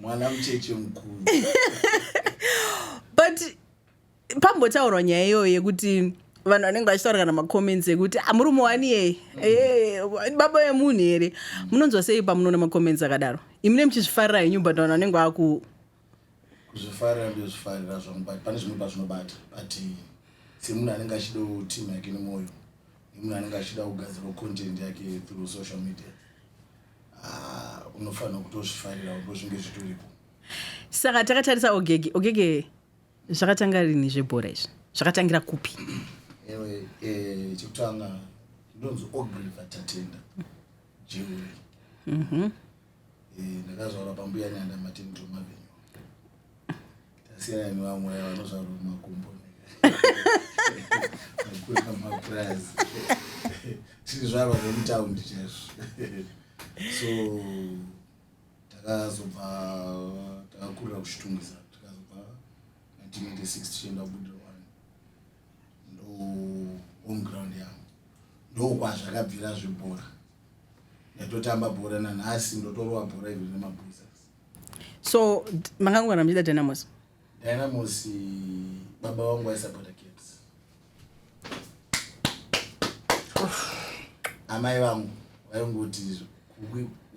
mwana mucheche mukuru but pambotaurwa nyaya iyoyo yekuti vanhu vanenge vachitaura kana macomments ekuti ah, murume wani yeye eh, baba vemunhu here munonzwa sei pamunoona macomments akadaro imi ne muchizvifarira henyu but vanhu vanenge vaku kuzvifarira ndozvifarira zvangu but pane zvimwe pazvinobata but semunhu anenge achida team yake nemwoyo nemunhu anenge achida kugadzirwa content yake through social media ah, unofanira kutozvifarira ndozvinge zvitoripo saka takatarisa ogege ogege zvakatanga rini zvebhora izvi zvakatangira kupi ewe eh, chekutanga ndonzi ogriva tatenda jeuri mhm. Eh, ndakazvaura pambuya nyanda matini tomavenyu tasiyana nevamwe vaya vanozvaura makumbo akura mapurazi tiri zvarwa nemutaundi chaizvo so takazobva takakurira kuchitungisa tikazobva 1986 tichienda kubudira wani ndo home ground yangu ndokwazvakabvira zvebhora ndatotamba bhora nanhasi ndotorova bhora iri nemabuzas so makangogara muchiita dynamos dynamos baba vangu vaisapota kids amai vangu vaingoti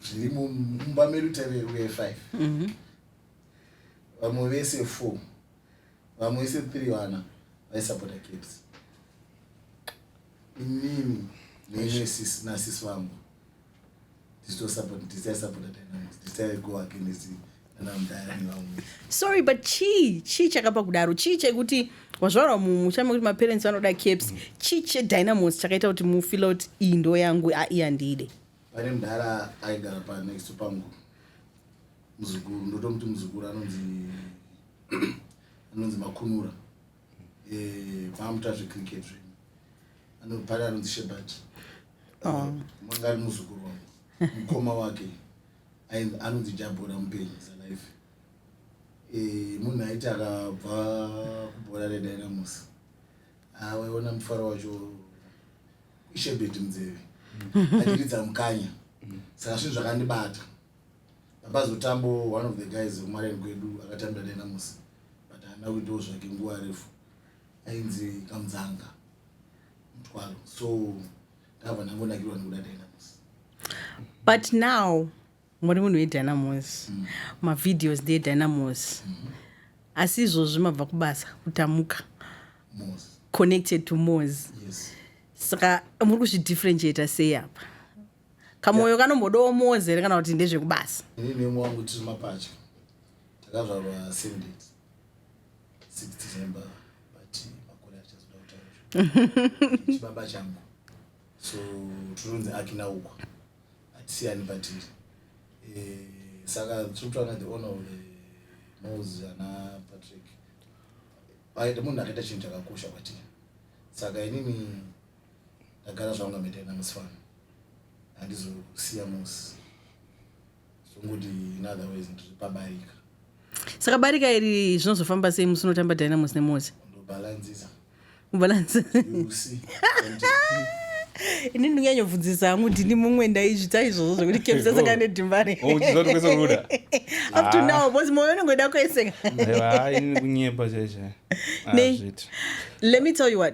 zviri mumba medu tave uye five mhm. vamwe vese four vamwe vese three vana vaisapota caps inini neimwe sisi nasisi vangu tichitosapota tichaisapota dynamics tichaigo against nanamdayani vamwe sorry but chii chii chakapa kudaro chii chekuti wazvarwa mumucha mekuti maparents vanoda caps mm. chii chedynamos chakaita kuti mufila kuti iyi ndo yangu aiyandiide pane mdhara aigara panext pangu muzukuru ndotomuti muzukuru anonzi anonzi makunura eh, maamuta zvecricket zve anopari anonzi shebat oh. manga ari muzukuru wangu mukoma wake anonzi jabhora mupenyu salife eh, munhu aiti akabva kubhora redynamos awaiona ah, mufaro wacho ishebet munzeve achiridza mukanya saka zvinhu zvakandibata Ambazo Tambo one of the guys vekumareni kwedu akatambira dai namusi but haana kuitawo zvake nguva refu ainzi kamudzanga mutwalo so ndava ndangonakirwa nekuda dai namusi but now muri munhu wedynamos mm. mavideos ndeedynamos mm -hmm. asi izvozvi mabva kubasa kutamuka Mose. connected to mos yes. saka muri kuzvidifferentiata sei apa kamoyo kanombodawo mozi here kana kuti ndezvekubasa ini nemwe wangu tiri mapatya takazvarwa same date 6 december but makore achazoda kutaura chibaba changu so tinonzi akina uko atisiyani patiri eh, saka tiri kutaura the owner of the mose ana patrick aita munhu akaita chinhu chakakosha kwatiri saka inini ndagara zvangu amete namusifana handizosiya musi zvongoti in other ways ndiri pabarika saka barika iri zvinozofamba sei musi unotamba dynamos nemozi ndobhalanzisa ini ndinganyobvunzisa hangu ndini mumwe ndaizvita izvozvo zvekuti kemsa saka nedhimbari up to now bcause moyo unongoda kueseka kunyepa chaizvo let me tell you what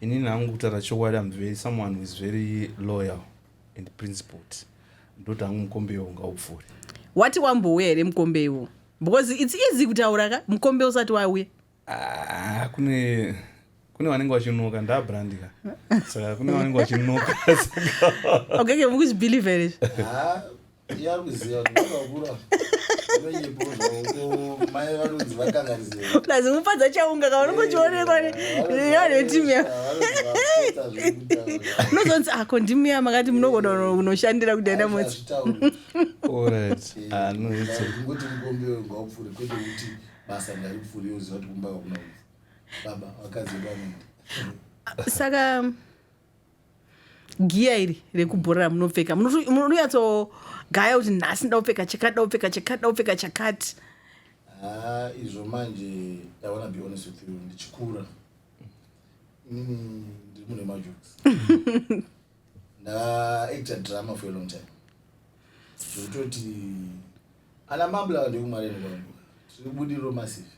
Inini hangu kutaura chokwadi am very someone who is very loyal and principled. Ndoti hangu mukombe iwo ngaupfuure. Wati wambouya here mukombe iwo? Because it's easy kutaura ka mukombe usati wauya. Ah, kune kune vanenge vachinoka ndabrandika saka kune vanenge vachinoka saka okay okay mukuzvibelieve here ah, plus mupadza chaunga kaunongochionekwa nevetimu ya unozonzi ako ah, ndimi ya makati munogona kunoshandira kudaenda motsi saka giya iri rekubhora ramunopfeka munonyatsogaya kuti nhasi nda kupfeka chakati nda kupfeka chakati nda kupfeka chakati ah, izvo manje iwana be honest with you ndichikura inini ndiri mune majoks ndaacta drama for a long time zvekutoti ana mambla ava ndekumwareni kwangu tiri budiriro massive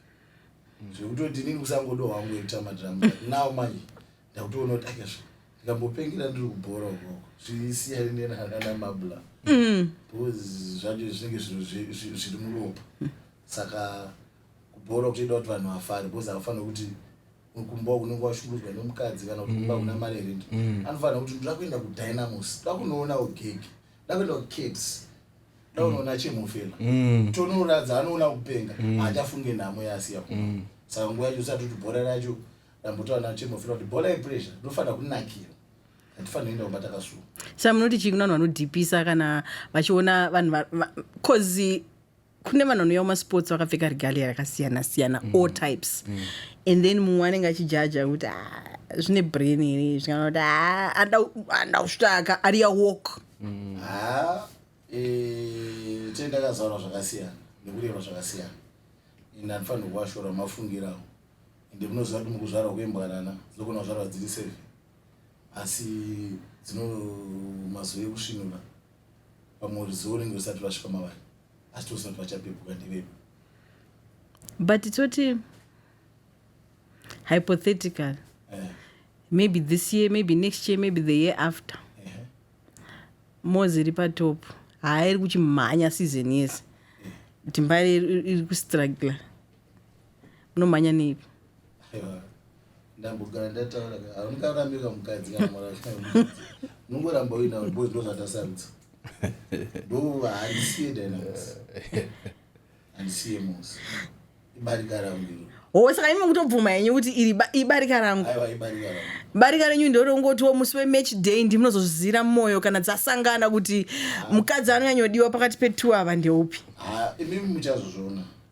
zvekutoti inini kusangodo hwangu ekuta madrama now manje ndakutoona kuti akazvo ndikambopengera ndiri kubhora ukoko zvisiyani nenhangana mabla mm. because zvacho zvinenge zvinhu zviri muropa saka kubhora kutoida kuti vanhu vafare because havafanira kuti kumba unenge washungudzwa nemukadzi kana kuti kumba mm. kuna mari rent mm. anofanira kuti ndoda kuenda kudynamos da kunoona ugege da kuenda kucats da kunoona mm. chemufela tonoradza anoona kupenga haachafunge nhamo yaasiya kuma saka nguva yacho usati kuti bhora racho ndambotaura nayo chemo fira kuti bhola yepressure rinofanira kunakira hatifanira kuenda kumba takasuwa sa munoti chii kuna vanhu vanodhipisa kana vachiona vanhu bcause kune vanhu vanouya kumasports vakapfeka regalia rakasiyana siyana mm. all types mm. and then mumwe anenge achijaja kuti ah, zvine brain here zvikana kuti ah, anda kusvitaka ariya walk mm. ah, eh, tee ndakazaura zvakasiyana nekureva zvakasiyana and andifanira kuvashora mafungirawo ende munoziva kuti mukuzvarwa kwembwanana dzinogona kuzvarwa dziri seven asi dzino mazuva ekusvinura pamwe ruzivo unenge usati vasvika mavari asi tose kuti vachapepuka ndevepo but toti hypothetical eh. maybe this year maybe next year maybe the year after eh. mozi iri patop haairi kuchimhanya season yese eh. timbari iri kustrugler munomhanya nei ndambogara ndataura aungarambika mukadzi kana mwana nongoramba uina bos ndo zvatasarudza ndo handisiye dynamics handisiye mos ibarika rangu iro howe saka imi mukutobvuma henyu kuti iri ibarika rangu barika renyu ndiro rongotiwo musi wematch day ndi munozozvizira mumwoyo kana dzasangana kuti mukadzi anonyanyodiwa pakati petu ava ndeupi imi muchazozviona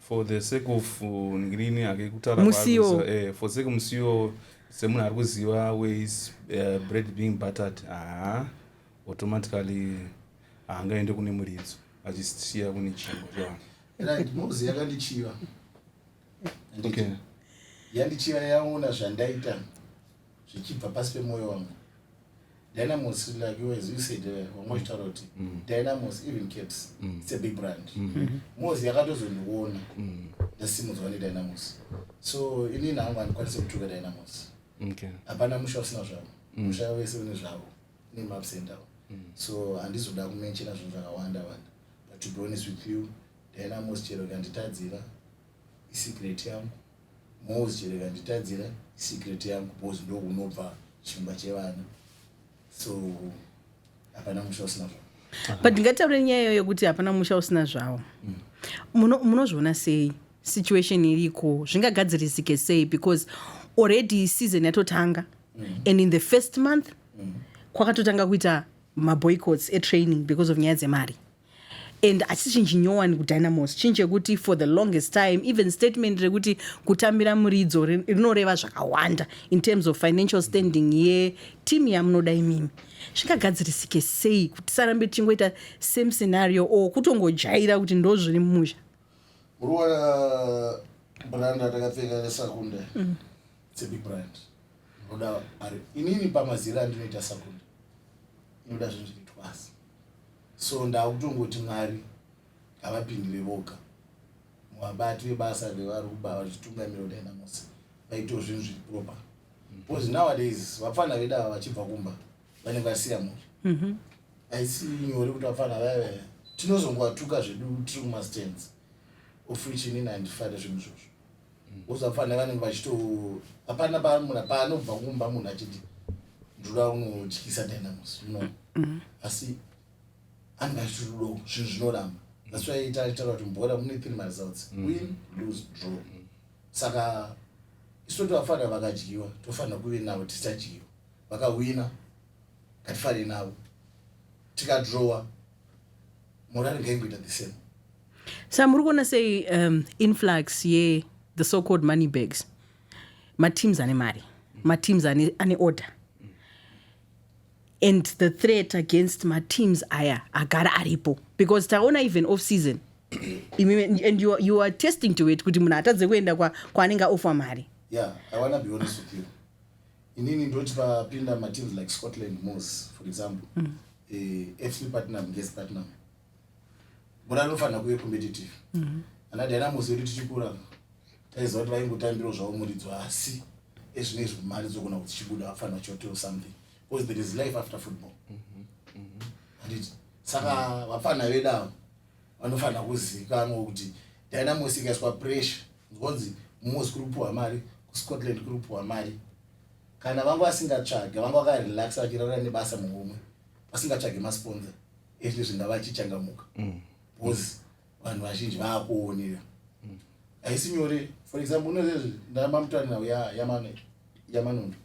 for the sake of uh, ngirini hake kutaura musiwo eh, for sake musiwo semunhu ari kuziva ways uh, bread being buttered haa automatically haangaende kune muridzo achisiya kune chingo right mozi yakandichiva okay. yandichiva yaona zvandaita zvichibva pasi pemwoyo wamwe dynamos like yours you said eh, wamwe uchitaura kuti mm. dynamos even caps mm. its a big brand mm-hmm. mozi yakatozondiona mm. ndasimudzwa nedynamos so inini hangu handikwanise kutuka dynamos hapana musha usina zvavo musha vese une zvavo ine maps endawo so handizoda kumenchena zvinhu zvakawanda wanda but to be honest with you dynamos chero kanditadzira isecret yangu Moz chero ikanditadzira secret yangu bos ndo unobva chimba chevana so hapana musha usina zvawo but ndingataure nyaya iyoyo yokuti hapana musha usina zvawo mm. munozviona muno sei situation iriko zvingagadzirisike sei because already season yatotanga mm. and in the first month mm. kwakatotanga kuita maboycotts etraining because of nyaya dzemari and achichinji nyowani kudynamos chinhu chekuti for the longest time even statement rekuti kutambira muridzo rinoreva zvakawanda in terms of financial standing yeteam yamunoda imimi zvingagadzirisike sei kuti tisarambe tichingoita same scenario or kutongojaira kuti ndo zviri mumusha muriwana uh, brand atakapfeka resakunda mm. its a big brand inoda ari inini pamazira andinoita sakunda inoda zvinhu zviri twasi So ndakutongoti Mwari ngavapindire voga muvabati vebasa revari kuba vachitungamira kudai namosi vaitawo zvinhu zviri proper because nowadays vapfana vedu ava vachibva kumba vanenge vasiya mhuri mhm. haisi nyore kuti vapfana vayavaya tinozongowatuka zvedu tiri kumastands of richinini handifare zvinhu zvozvo usafanira vanenge vachito hapana pamuna paanobva kumba munhu achiti ndoda unotyisa dynamus no mm-hmm. asi anenge achitodo zvinhu zvinoramba that's why taitaura kuti mbora mune three maresults mm-hmm. win lose draw mm-hmm. saka isu tovafanira vakadyiwa tofanira kuve navo tisadyiwa vakawina ngatifarei navo tikadrowa morari ngaingoita the same sa muri kuona sei um, influx ye the so called money bags mateams ane mari mateams ane, ane order and the threat against mateams aya agara aripo because taona even off season and you, you are testing to it kuti munhu atadze kuenda kwaanenge kwa ofwa mari yeah, inini ndoti papinda mateams like scotland mos for example mm. eh, fc partnam nges partnam bora rinofanira kuve competitive mm -hmm. ana dynamos yedu tichikura taiziva kuti vaingotambiro zvavo muridzo asi ezvine izvi mari dzokona kuti chibuda vafanira choteo something because there is life after football mm -hmm. Mm -hmm. saka vapfanha vedu avo vanofanira kuzivikanwa kuti dynamos ikaiswa pressure nzonzi mos kuri kupiwa mari kuscotland kuri kupiwa mari kana vanga vasingatsvage vanga vakarelax vachirara nebasa muhomwe vasingatsvage masponsa ezvi zvinga vachichangamuka mm. because vanhu vazhinji vaakuonera mm. haisi nyore for example unozezvi ndamamutani navo yamanondo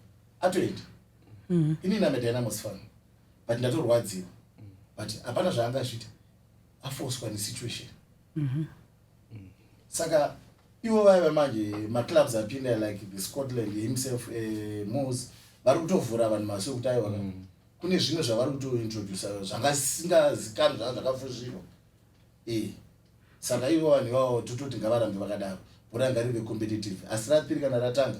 atoenda mm-hmm. ini namedynamos fan but ndatorwadziwa but hapana zvaangazvita afoswa nesituation mm -hmm. mm. saka ivo vaiva manje maclubs apinda like the scotland himself uh, eh, mos vari kutovhura vanhu maso ekuti aiwa mm. kune zvimwe zvavari kutointroduce zvangasingazikanwi zvanga zvakafuzvirwa e eh. saka ivo vanhu ivavo tototi ngavarambe vakadaro bhora ngarive competitive asi ratiri kana ratanga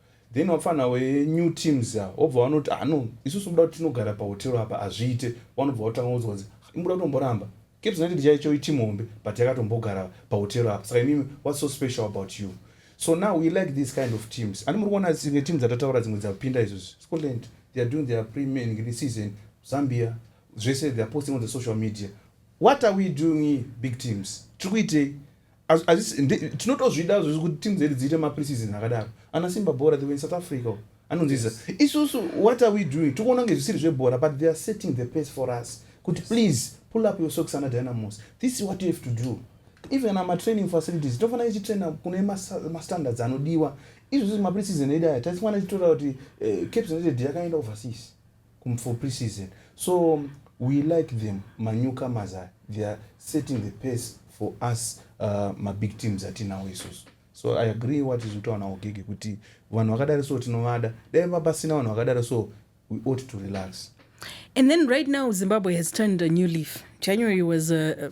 then wapfana we new teams ya wobva wanoti ah no isusu kuda kuti tinogara pahotero apa hazviite wanobva wotanga kunzwa kunzi imbuda kutomboramba caps united chaicho iteam hombe but yakatombogara pahotero apa saka imimi what's so special about you so now we like these kind of teams ani muri kuona dzimwe team dzatataura dzimwe dzapinda izvozvi scotland they are doing their premiering this season zambia zvese they are posting on the social media what are we doing big teams tiri kuitei tinotozvida zvezvo kuti team dzedu dziite mapreseason akadaro ana simba bhora they were in south africa anonziza isusu what are we doing tikuona kunge zvisiri zvebhora but they are setting the pace for us kuti please pull up your socks ana dynamos this is what you have to do even ama training facilities tinofanira ichitraina kune mastandards anodiwa izvozvo mapreseason edu aya taifana ichitora kuti eh, caps united yakaenda overseas Kum for pre-season. So we like them manyukamas aya they are setting the pace for us uh, mabig teams atinawo isusu so i agree what is utaona ugege kuti vanhu vakadari so tinovada dai vapasina vanhu vakadari so we ought to relax and then right now zimbabwe has turned a new leaf january was a,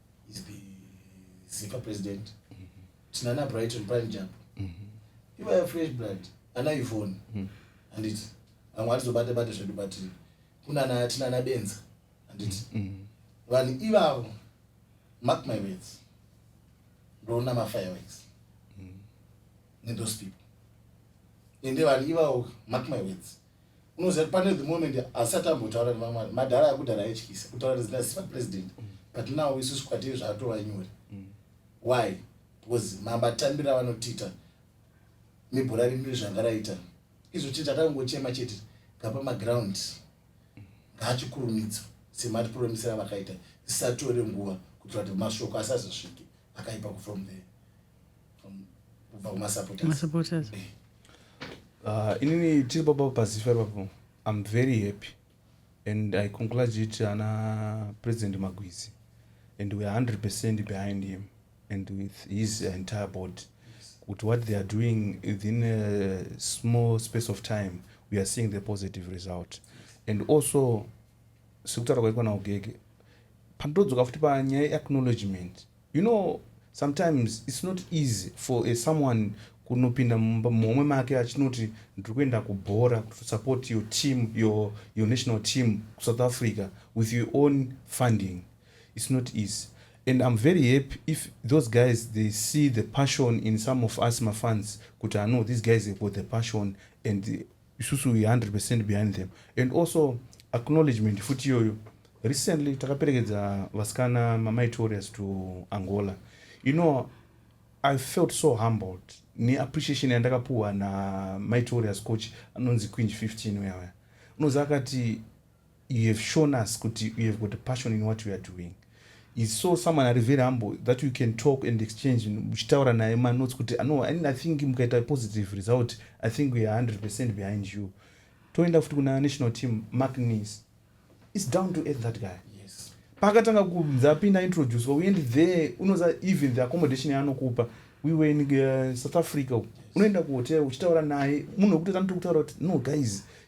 is the zifa president mm -hmm. tinana brighton prime jump mm -hmm. ivaya fresh blood ana ivone mm -hmm. anditi vamwe atizobate bate zvedu but kunana tinana benza anditi mm -hmm. vanhu ivavo mark my words ndoona mafireworks mm -hmm. nethose people ende vanhu ivavo mark my words unoziva pane the moment asati ambotaura nevamwari madhara akudhara aityisa kutaura nezina zisa president but now isusu kwatiri zvatova nyore mm. why because mamatambira vanotiita mibhora rimiri zvanga raita izvo chete akangochema chete ngapa maground ngaachikurumidza sematipuromisira vakaita zisatore nguva kuitira kuti mashoko asazosvike akaipa kufrom there kubva kumasupporters eh. ah, inini tiri papa pazifa ipapo i'm very happy and i congratulate ana president magwizi and weare 100 percent behind him and with his entire board with what they are doing within a small space of time we are seeing the positive result and also sekutaura kwaikwa naugege pandodzoka futi panyaya yeacknowledgement You know sometimes it's not easy for a someone kunopinda muhomwe make achinoti ndiri kuenda kubhora to support your team your, your national team kusouth africa with your own funding it's not easy and i'm very happy if those guys they see the passion in some of us mafans kuti ano these guys have got the passion and isusu we 100 percent behind them and also acknowledgement futi iyoyo recently takaperekedza vasikana mamaitorias to angola you know i felt so humbled neappreciation yandakapuhwa namaitorias coach anonzi quinge 15 uyawaya unozi akati you have shown us kuti you have got a passion in what you are doing is so someone ari very humble that you can talk and exchange uchitaura naye manotes kuti ah, no i think mukaita positive result i think we are 100 percent behind you toenda futi kuna national team mark nis is down to earth that guy yes. paakatanga kunzi apinda introducwa we end there unoza even the accommodation yaanokupa we were in uh, south africa yes. unoenda kuhotel uchitaura naye munhu wekutoita notokutaura kuti no guys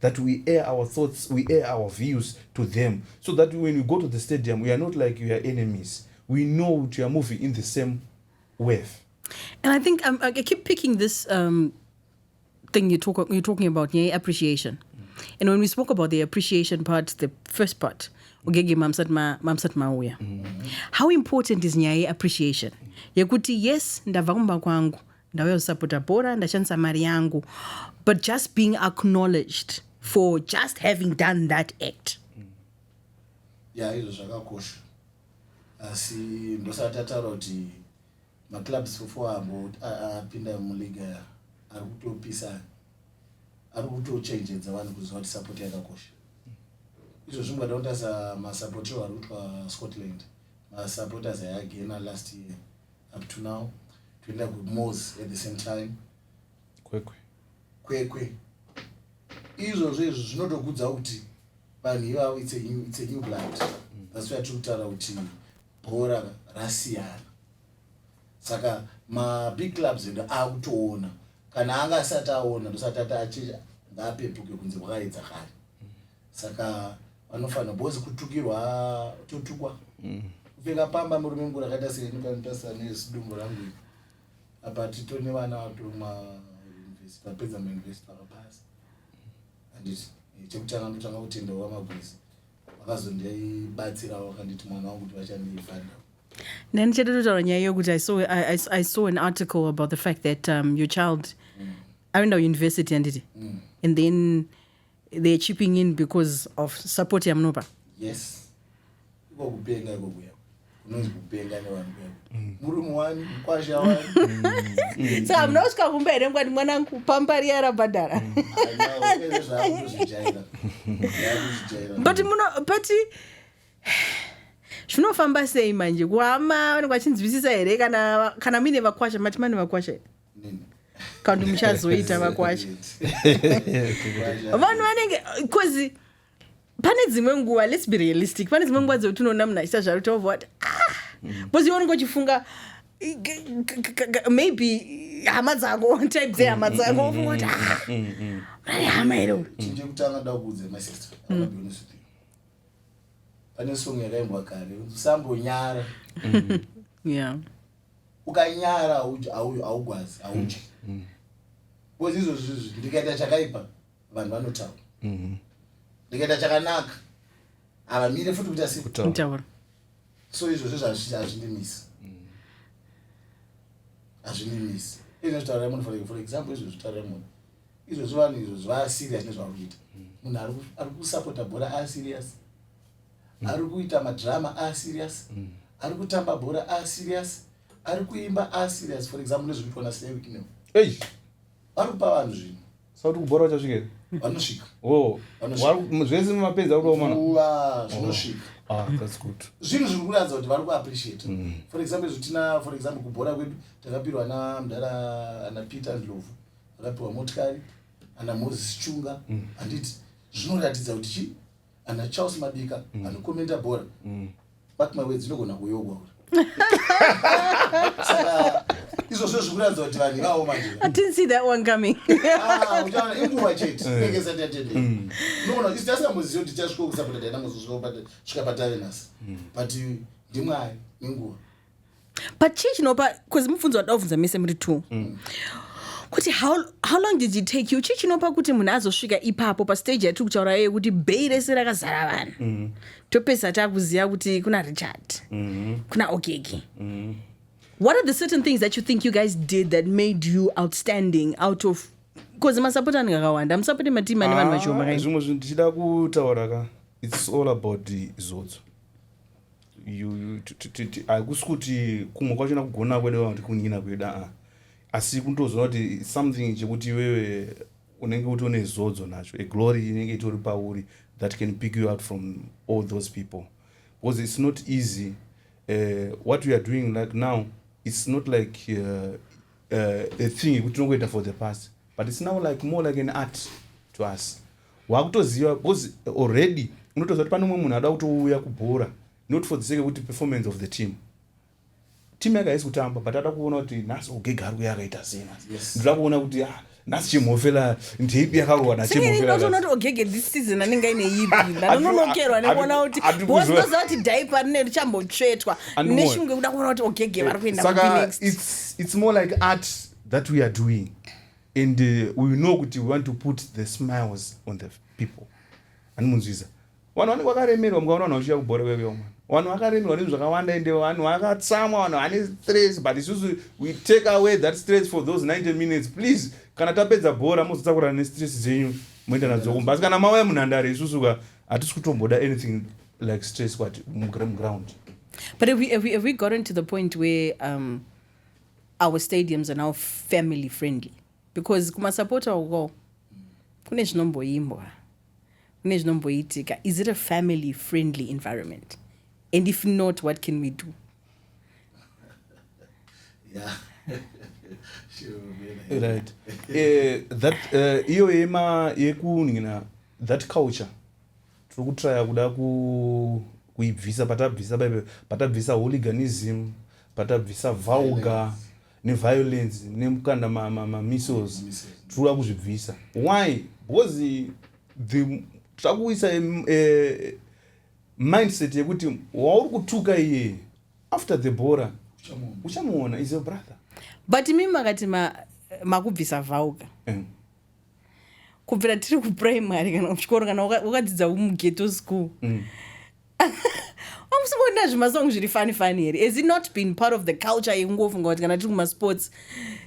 that we air our thoughts we air our views to them so that when we go to the stadium we are not like we are enemies we know kuti we are moving in the same wave and i think um, i keep picking this um, thing you talk, you're talking about yeah, appreciation mm. and when we spoke about the appreciation part the first part ugege mamsat ma, mamsat mauya mm. how important is nyaya yeappreciation yekuti yes ndabva kumba kwangu ndauya kusapota bhora ndashandisa mari yangu but just being acknowledged for just having done that act mm. ya izvo zvakakosha asi ndosati ataura kuti maclubs fofo ambo apinda muliga ari kutopisa ari kutochenjedza vanhu kuziva kuti sapoti yakakosha izvo zvingada kutasa masapotiro ari kutwa scotland masapoters ayagena last year up to now toenda kumos at the same time kwekwe kwekwe izvozvo izvi zvinotokudza kuti vanhu ivavo its a new blood mm. that's why tiri kutaura kuti bhora rasiyana saka mabig clubs edu akutoona kana anga asati aona ndosati ati achi ngaapepuke kunze kwakaedza kare saka vanofanira bhozi kutukirwa totukwa mm. kupfeka pamba murume mukuru akaita seenikanotasira nezidumbu rangu ii apa tito nevana vatoruma university vapedza mauniversity vakapasa anditi eh, chekutanga ndotanga kutenda wamagwizi vakazondibatsirawo vakanditi mwana wangu kuti vachandiifanda then chetetotaura nyaya iyo kuti i saw an article about the fact that um, your child mm. aenda kuuniversity anditi mm. and then mm. they're chipping in because of support yamunopa yes iko kupenga iko kuya kunonzi kupenga nevanhu kuya mm. murume wani mukwasha wani mm. saka hamuna kusvika kumba here ngwani mwana kupambari yarabhadhara mm. but muno but zvinofamba sei manje kuhama vanenge vachinzwisisa here kana kana muine vakwasha mati mane vakwasha here kandi muchazoita vakwacha vanhu vanenge bcause pane dzimwe nguva lets be realistic pane dzimwe nguva dzekuti unoona munhu achita zvaro tova vati ah! bcause iwe unenge uchifunga maybe hama dzako type dzehama dzako ofunga kuti ah! murari hama here uyu chekutanga da kuudza my sister pane song yakaimbwa kare usambonyara yeah ukanyara haugwazi haudyi mm, mm. bcause izvozvi izvi ndikaita chakaipa vanhu vanotaura mm-hmm. ndikaita chakanaka havamire futi kuita sekutaura so izvozvi zvazvindimisi hazvindimisi mm. izvo zvitaura munhu for, for example izvo zvitaura munhu izvozvi vanhu izvo zvivaserious nezvauri kuita mm. munhu ari kusapota bhora aserious mm. ari kuita madrama a serious mm. ari kutamba bhora a serious ari kuimba a serious for example nezviri kuitwa naslay wiknel ei vari kupa vanhu zvinhu sauti kubhora vachasvika here vanosvika oh. zvese mumapedzi ari kuomana uva zvinosvika oh. ah, zvinhu zviri kuratidza kuti vari kuappreciate mm. for example izvo tina for example kubhora kwedu takapirwa na mdara ana peter and lovu akapiwa motikari ana moses chunga mm. handiti zvinoratidza kuti chii ana charles madika mm. anokomenta mm. bhora mm. but my words inogona kuyogwa uri saka izvozvo zviri kuratidza kuti vanhu ivavo majeauchaona ah, inguva chete eh. inenge isati yatende mm. unogona kuti tasingamboziva kuti tichasvika kusapota tainangozosvika patave nhasi mm. but ndimwari nenguva but chii chinopa bcause mubvunzo wandida kuvhunza mese muri two mm. kuti how, how long did it take you chii chinopa kuti munhu azosvika ipapo pastage yatiri kutaura yeye kuti bhei rese rakazara vanhu mm. topesa takuziva kuti kuna richard mm. kuna okeki mm. what are the certain things that you think you guys did that made you outstanding out of bcause masapoti anenge akawanda musapoti matimu ane vanhu ah, vachiomakai zvimwe zvinhu ndichida kutaura ka it's all about zodzo hakusi kuti kumwe kwacho nakugona kwede vakuti kunyina kweda a ah. asi kundozoona kuti something chekuti iwewe unenge kuti une zodzo nacho a glory inenge itori pauri that can pick you out from all those people because it's not easy uh, what we are doing like now it's not like uh, uh, a thing yekuti tinongoita for the past but it's now like more like an art to us wakutoziva because already unotoziva kuti pane umwe munhu ada kutouya kubhora not for the sake yekuti performance of the team team yake haisi kutamba but ada kuona kuti nhasi ogega ari kuya akaita sei nhasi ndoda kuona kuti ah, nhasi chimhofela ndeipi yakarowa nachimhofelanoti ogege this season anenge aine ipi ndanononokerwa nekuona kuti bozoziva kuti dhaipa rine richambotsvetwa neshungu yekuda kuona kuti ogege vari kuenda kuinexit it's more like art that we are doing and uh, we know kuti we want to put the smiles on the people ani munzwiza vanhu vanenge vakaremerwa mukaona vanhu vachiuya kubhora veveo mwana vanhu vakaremerwa nezvi zvakawanda ende vanhu vakatsamwa vanhu vane stress but isusu we take away that stress for those 90 minutes please kana tapedza bhora mozotsakurana nestress dzenyu moenda nadzo kumba asi kana mauya munhandare isusu ka hatisi kutomboda anything like stress kwati muground but have we, have we, have we gotten to the point where um, Our stadiums are now family friendly because kumasapota uko kune zvinomboimbwa kune zvinomboitika is it a family friendly environment and if not what can we do yeah. right uh, that eh, iyo uh, yema yekunhina that culture tiri kutraya kuda kuibvisa patabvisa baibe patabvisa hooliganism patabvisa vulgar neviolence nekukanda mamissiles tiriuda kuzvibvisa why because the takuisa eh, mindset yekuti wauri kutuka iye after the bora uchamuona is your brother but mimi makati makubvisa vauga eh. kubvira tiri kuprimary kana kuchikoro kana wakadzidza mugeto school mm. amusimboona zvimasong zviri fani fani here has it not been part of the culture yekungofunga kuti kana tiri kumasports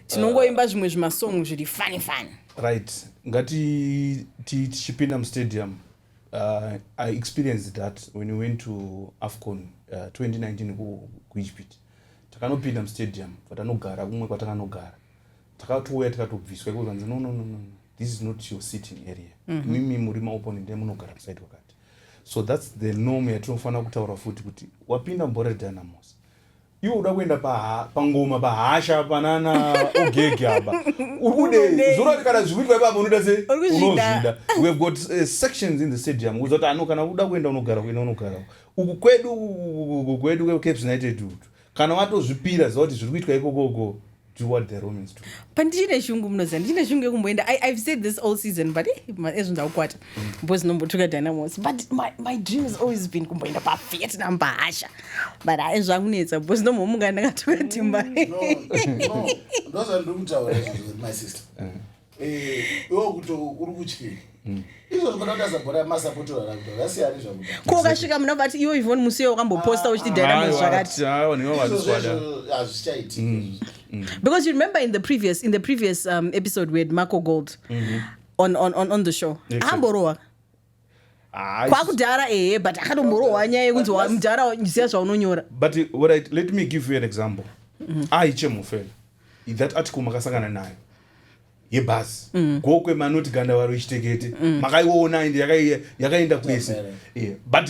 tinongoimba uh, zvimwe zvimasong zviri fani fani right ngati tichipinda mustadium uh, i experienced that when we went to afcon uh, 2019 kuegypt takanopinda mustadium kwatanogara kumwe kwatanganogara takatouya tikatobviswa iko zvanzi no no no no this is not your sitting area mm -hmm. mimi muri maoponent emunogara kusaidi kwakati so thats the norm yatinofanira kutaura futi kuti wapinda mbore dynamos iwe uda kuenda pangoma pahasha panana ogege apa uri kudei zuro ati kana zvikuitwa ipapa unoita se unozvida we have got uh, sections in the stadium kuudza kuti ano kana uda kuenda unogara kuenda unogara uku kwedu uku kwedu caps united utu kana watozvipira ziva kuti zviri kuitwa ikokoko pandichine shungu munoziva ndichine shungu yekumboenda ive said this all season but eh, ezvo ndaukwata bcause nombotuka dynamos but my, my dream has always been kumboenda pavietnam pahasha but ae zvakunetsa bcause nomhomuka ndakatuka timba mm, ndozvandiri kutaura izvozvo my sister mm. Eh, iwo kuti uri kutyei hmm. ko ukasvika muna vati iwo ivon musi iyo wakamboposta uchiti dynamo zvakati hmm, hmm. because you remember in the previous in the previous um, episode we had marco gold mm -hmm. on, on, on, on the show amborowa exactly. kwakudhara ehe but akatomborohwa nyaya yekunzi mudhara siya zvaunonyora but right, let me give you an example mm. aichemufela ah, that article makasangana nayo yebhasi mm. gokwe manoti gandavaro ichitekete mm. makaiona ende yakaenda kwese but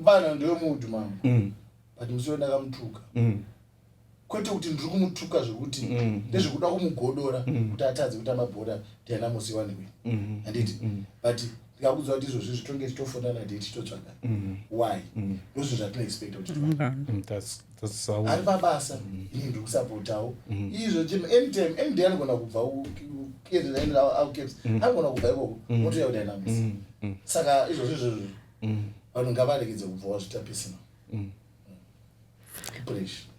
mvana ndewe muudhu mama mm. but musoro ndakamutuka mm. kwete kuti ndiri kumutuka zvekuti mm. ndezvekuda kumugodora mm. kuti atadze kuti amabhora ndianamusiwanikwe mm. Mm-hmm. anditi mm. but ndikakudzwa kuti izvozvi zvitonge titofonana dei titotsvaga mm. why mm. ndozvo zvatino expecta kuti mm. mm. ari pabasa mm. ini ndiri kusapotawo mm. izvo chim anytime any day anogona kubva ukeaps mm. anogona kubva ikoko mm. motoya kuti ainamusi mm. mm. saka izvozvi izvozvo mm. vanhu mm. ngavaregedze kubva wazvita pisina mm.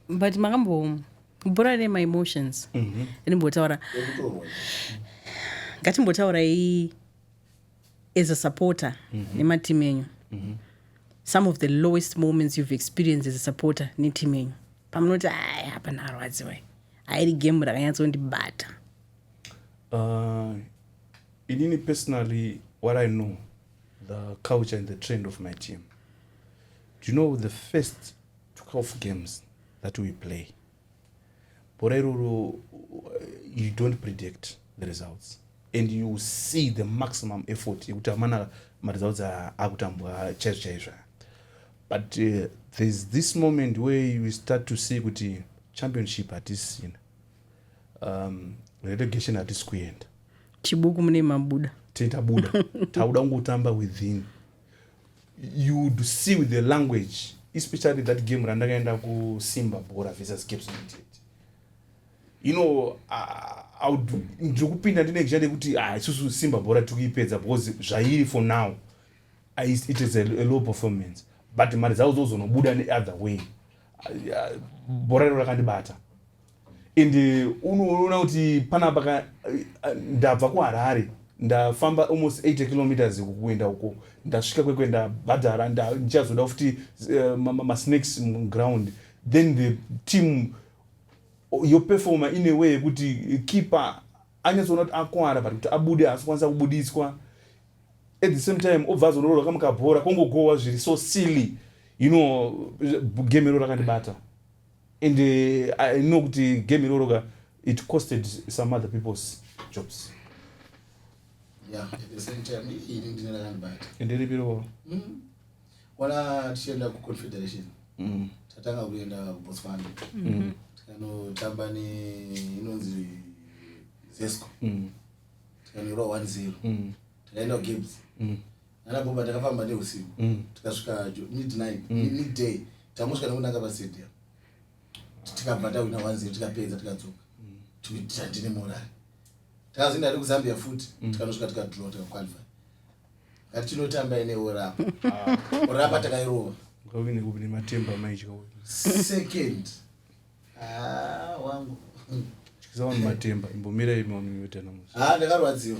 mm. but makambo bhora ne maemotions mm -hmm. ndimbotaura ngatimbotauraii as a supporter mm -hmm. nematimu enyu mm -hmm. some of the lowest moments you've experienced as a supporter netimu enyu pamunoti aya hapana arwadziwa airi game rakanyatsondibata uh, inini personally what i know the culture and the trend of my team do you know the first two calf games that we play bhora iroro you don't predict the results and you see the maximum effort yekuti amana maresults akutambwa chaizvo chaizvo but uh, there's this moment where you start to see kuti championship hatisina um, relegation hatisi kuenda chibuku mune mabuda titabuda tauda kungotamba within you see with the language especially that game randakaenda kusimba bhora versus caps united you know ndiri kupinda ndine ngisha nekuti ah, isusu simba bhora tiri kuipedza because zvairi for now it is a, a low performance but mari dzavo dzozonobuda neother way ah, bhora rero rakandibata and unoona kuti panapa ka ndabva kuharare ndafamba almost 80 kilometers kuenda uko ndasvika kwekwe ndabhadhara ndichazoda futi eh, masnakes muground then the team yoperfoma ine way yekuti keeper anyatsoona kuti akwara but kuti abude haasi kwanisa kubudiswa at the same time obva azororwa kamukabhora kongogowa zviri so silly you know gemero rakandibata and uh, i know kuti game iroro ka it costed some other people's jobs ende ripi iroro wana tichienda kuconfederation mm. tatanga kuenda kubotswana mm. tikanotamba neinonzi zesco mm. tikanoirwa one zero takaenda kugibs nana bhomba takafamba neusiku mm. tikasvika midnight mm. midday tamusvika nekunanga pastadium tikabva tawina one zero tikapedza tikadzoka tikuti handine morari takazoenda ari kuzambia futi mm. tikanosvika tikadro tikaqualify kati tinotamba ine orapa ah. orapa takairova second ah, wangu chikizawanhu matemba imbomira imaonimiotanamuz ah, ndakarwadziwa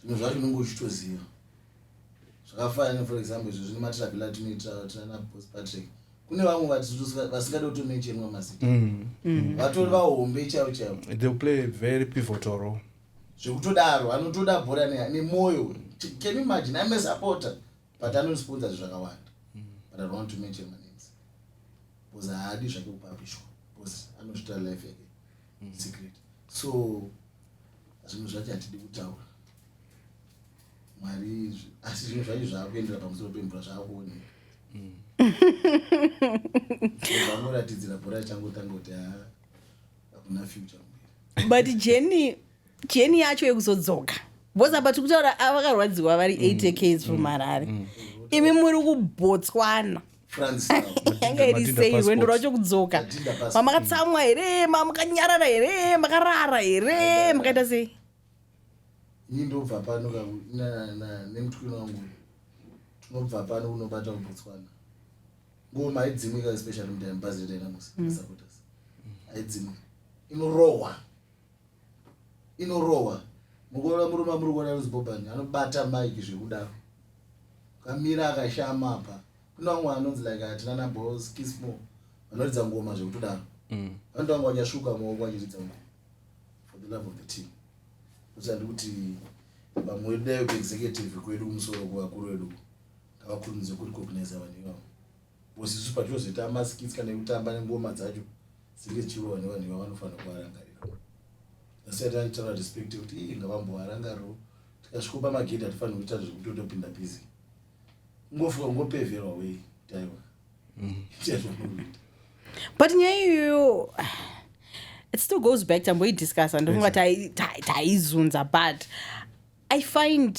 zvinhu zvacho unenge uchitoziva zvakafana ne for example izvo zvine matravela atinoita tana bos patrick kune vamwe vasingade kutomenchenwa mazita mm. mm. vatori vahombe chaivo chaivo zvekutodaro anotoda bhora nemwoyo can imagine ame supporter but anondisponsor zvi zvakawanda mm. but i want to mention my names bcause haadi zvake kupapishwa bcause anozvita life yake secret so zvinhu zvacho hatidi kutaura mwari asi zvinhu zvacho zvaakuendera pamusoro pemvura zvaakuoneka mm. vanoratidzira bhora achangotanga kuti ha hakuna future mberi but jeni jeni yacho yekuzodzoka bcause apa tiri kutaura avakarwadziwa vari 8 mm. ks from mm. harare imi muri kubotswana yanga iri sei rwendo rwacho kudzoka mamakatsamwa here mamakanyarara here makarara here makaita sei ini ndobva pano nemutukiro wangu tinobva pano kunobata kubotswana ngoma haidzimwi ka especially mudai mubhazi retainamusi mm. aidzimwi inorohwa inorohwa mukuona murume amuri kuona anonzi bobani anobata mike zvekudaro kamira akashama apa kune vamwe anonzi like hatina nabos kismo vanoridza ngoma zvekutodaro mm. vanoita vanga vachasvuka maoko vachiridza ngoma for the love of the team kuti andi kuti vamwe vedu dayo kuexecutive kwedu kumusoro kuvakuru vedu ngavakurumidze kurecognize vanhu ivavo Boss isu patinozoita maskits kana ekutamba nengoma dzacho dzinge dzichirova nevanhu iva vanofanira kuvarangarira. Asi ati anditaura respect yekuti ii ngavambovarangariro tikasviko pamagedhi hatifaniri kuita zvekutotopinda busy. Ungofuka ungopeverwa wei kuti aiwa. Mm. Ita zvaunoita. But nyaya iyoyo it still goes back tamboidiscussa ndofunga taizunza but i find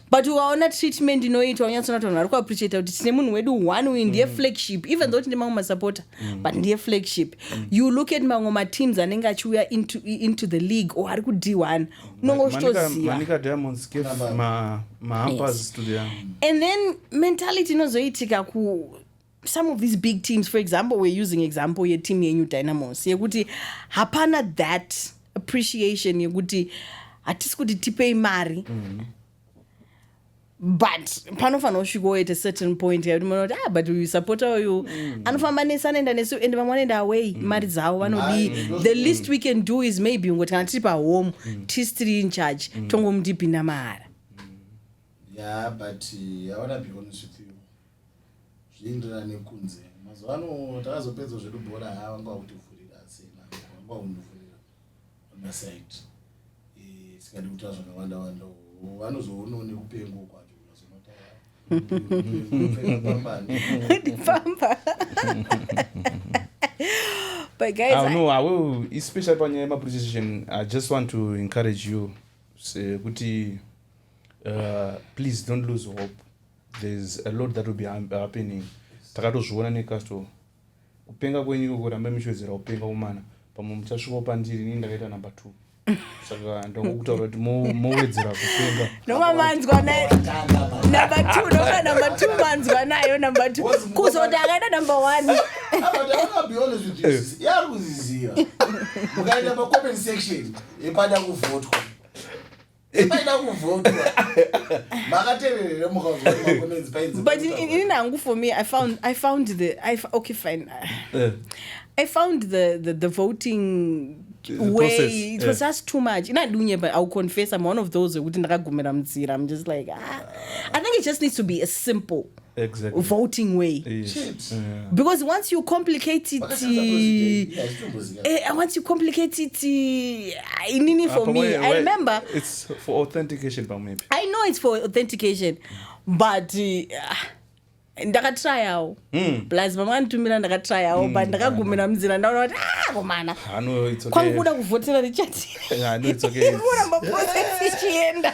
but ukaona treatment inoitwa unyatsona kuti vanhu vari kuappreciata kuti tine munhu wedu one uyu ndiye mm. flagship even though tine mamwe masupporter mm. but ndiye flagship mm. you look at mamwe mateams anenge achiuya into, into the league or ari kudiwana unonge uchitozivaand then mentality inozoitika ku some of these big teams for example we're using example yeteam yenyu dynamos yekuti hapana that appreciation yekuti hatisi kuti tipei mari mm. but panofanira kusvika oita certain point yekuti mona kuti ah but uyu supporta uyu mm. anofamba nesi anoenda nesi and vamwe vanoenda away mm. mari dzavo vanodii the least we can do is maybe ungoti kana tiri pahome mm. tisi tiri in charge mm. tongomudipinda mahara yeah but uh, i wanna be honest with you zvinoenderana nekunze mazuva ano takazopedza zvedu bhora ha vanga vakutivhurira asina vanga vakundivhurira onasaidi eh, sikadi kutaa zvakawanda wanda vanozoonawo nekupengo kwacho ndipamba but guys ah, no, I will, especially panyaya yemaprecision i just want to encourage you kuti uh, please don't lose hope there's a lot that will be happening takatozviona necasto kupenga kwenyu ikoko rambai muchiwedzera kupenga kumana pamwe muchasvikawo pandiri ini ndakaita number two saka ndakukutaura kuti mowedzera kupenga noma manzwa naye number two noma number two manzwa nayo number two kuzoti akaita number one yaari kuziziva mukaenda pacoment section yepada kuvhotwa epaida kuvhotwa makatererere mukaomakomenzi painzi but ini nangu for me i found i found the I, okay fine uh, i found the, the, the voting way it was yeah. just too much ina dunye but i'll confess i'm one of those wekuti ndakagumira munzira i'm just like ah. i think it just needs to be a simple exactly. voting way yes. Chips. yeah. because once you complicate it Vakashandisa president. Yeah, zvitomboziva. eh, once you complicate it eh, inini for Apa me where- i where- remember it's for authentication pamwepi i know it's for authentication but uh, ndakatryawo Mm. plus mama anditumira ndakatryawo but ndakagumira munzira ndaona kuti ah komana I know it's okay. kwangu kuda kuvhotera richard Yeah, I know it's okay. It's- kuramba process ichienda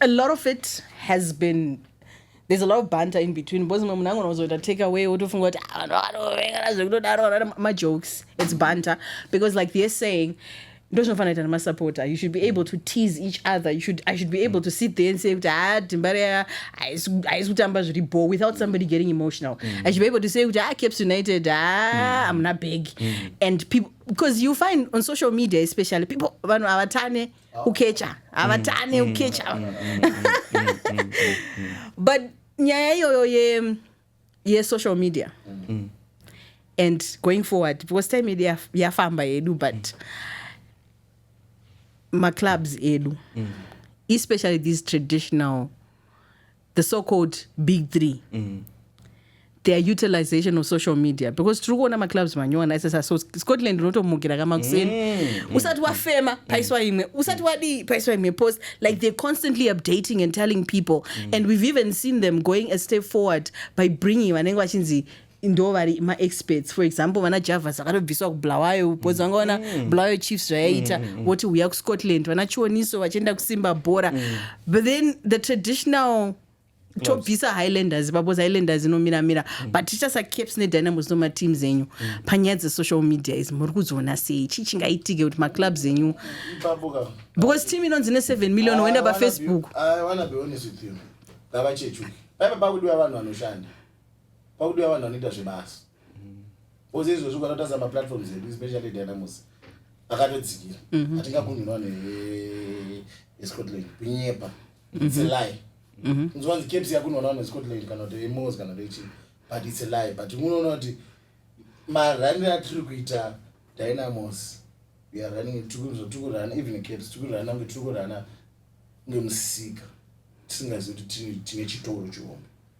A lot of it has been there's a lot of banter in between because mwe munango unozoita take away wotofunga kuti ah, vanhu vanovengana zvekutodaro vana majokes it's banter because like they're saying ndozvinofanira ita nemasupporter you should be able to tease each other you should, i should be able to sit there and say kuti ha ah, dhimba reya haisi kutamba zviri bho without somebody getting emotional mm. i should be able to say kuti ha ah, caps united ha ah, mm. amuna bag mm. and people because you find on social media especially people vanhu havatane ukecha havatane mm, mm, ukecha mm, but nyaya iyoyo ye yesocial media mm. and going forward because time yedu yafamba yedu but mm. maclubs edu mm. especially these traditional mm. the so called big three mm. their utilization of social media because tiri kuona maclubs manyowani aisesa so scotland unotomukira kamakuseni mm. usati wafema mm. paiswa imwe usati wadii paiswa imwe post like they're constantly updating and telling people mm. and we've even seen them going a step forward by bringing vanenge vachinzi ndovari maexperts for example vana javas vakatobviswa kubulawayo because vanga vana mm. bulawayo chiefs zvayaita mm, mm, voti uya kuscotland vana chioniso vachienda kusimba bhora but then the traditional tobvisa highlanders babos highlanders inomiramira mm. but tichasa caps nedynamos no mateams enyu mm. panyaya dzesocial media izi muri kudziona sei chii chingaitike kuti maclubs enyu because team inonzi ne7 million woenda pafacebook ah, ah, ah, paipa pakudiwa vanhu vanoshanda pakudiwa vanhu vanoita zvebasa bcause izvozvi ukatotarisa maplatforms edu especially dynamus akatodzikira mhm. hatingakunhirwa neescotland kunyepa mhm. its a lie mhm. nzwanzi caps yakunhonwa nescotland kana kuti emos kana kuti chii but its a lie but unoona kuti maranire atiri kuita dynamos weare running tikurana even caps tikurana kunge tiri kurana ngemusika tisingazivi kuti tine chitoro chihombe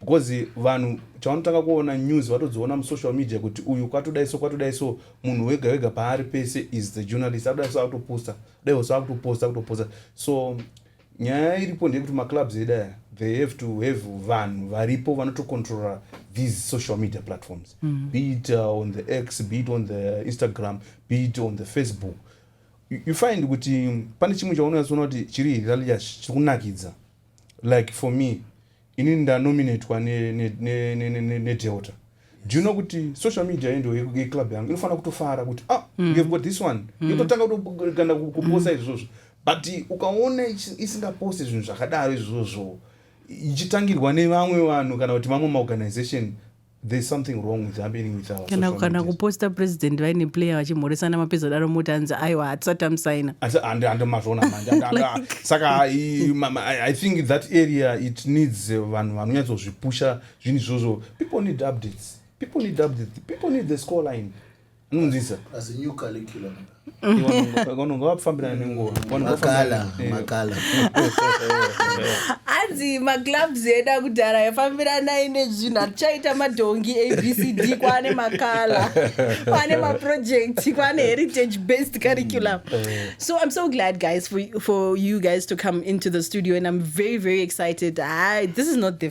because vanhu chavanotanga kuona news vatodziona musocial media kuti uyu kwatodai so kwatodai so munhu wega wega paari pese is the journalist akudai so akutoposta dai wose akutoposta akutoposta so nyaya iripo ndeyekuti maclubs edu aya they have to have vanhu varipo vanotocontrola these social media platforms mm -hmm. be it uh, on the x be it on the instagram be it on the facebook you, you find kuti pane chimwe chaunonyatsoona kuti chiri hilalious chiri kunakidza like for me ini ndanominatwa nedelta do you know kuti social media yendo yeclub yangu inofanira kutofara kuti ah mm. you've got this one mm. yototanga kutoganda kuposa izvozvo but ukaona isingaposti zvinhu zvakadaro izvozvo ichitangirwa nevamwe vanhu kana kuti vamwe maorganization there's something wrong with happening with our kana kana kuposta president vaine player vachimhoresana mapedza daro moti anzi aiwa hatisati amusaina andimazvona manje saka i think that area it needs eh, vanhu vanonyatsozvipusha zvinhu izvozvo people need updates people need updates people need the score line unonzwisa vanonga vafambirana nenguvamakala hanzi maclubs edu akudhara yafambiranai nezvinhu hatichaita madhongi abcd kwaane makala kwaane maproject kwaane heritage based curriculum so i'm so glad guys for, for you guys to come into the studio and i'm very very excited I, this is not the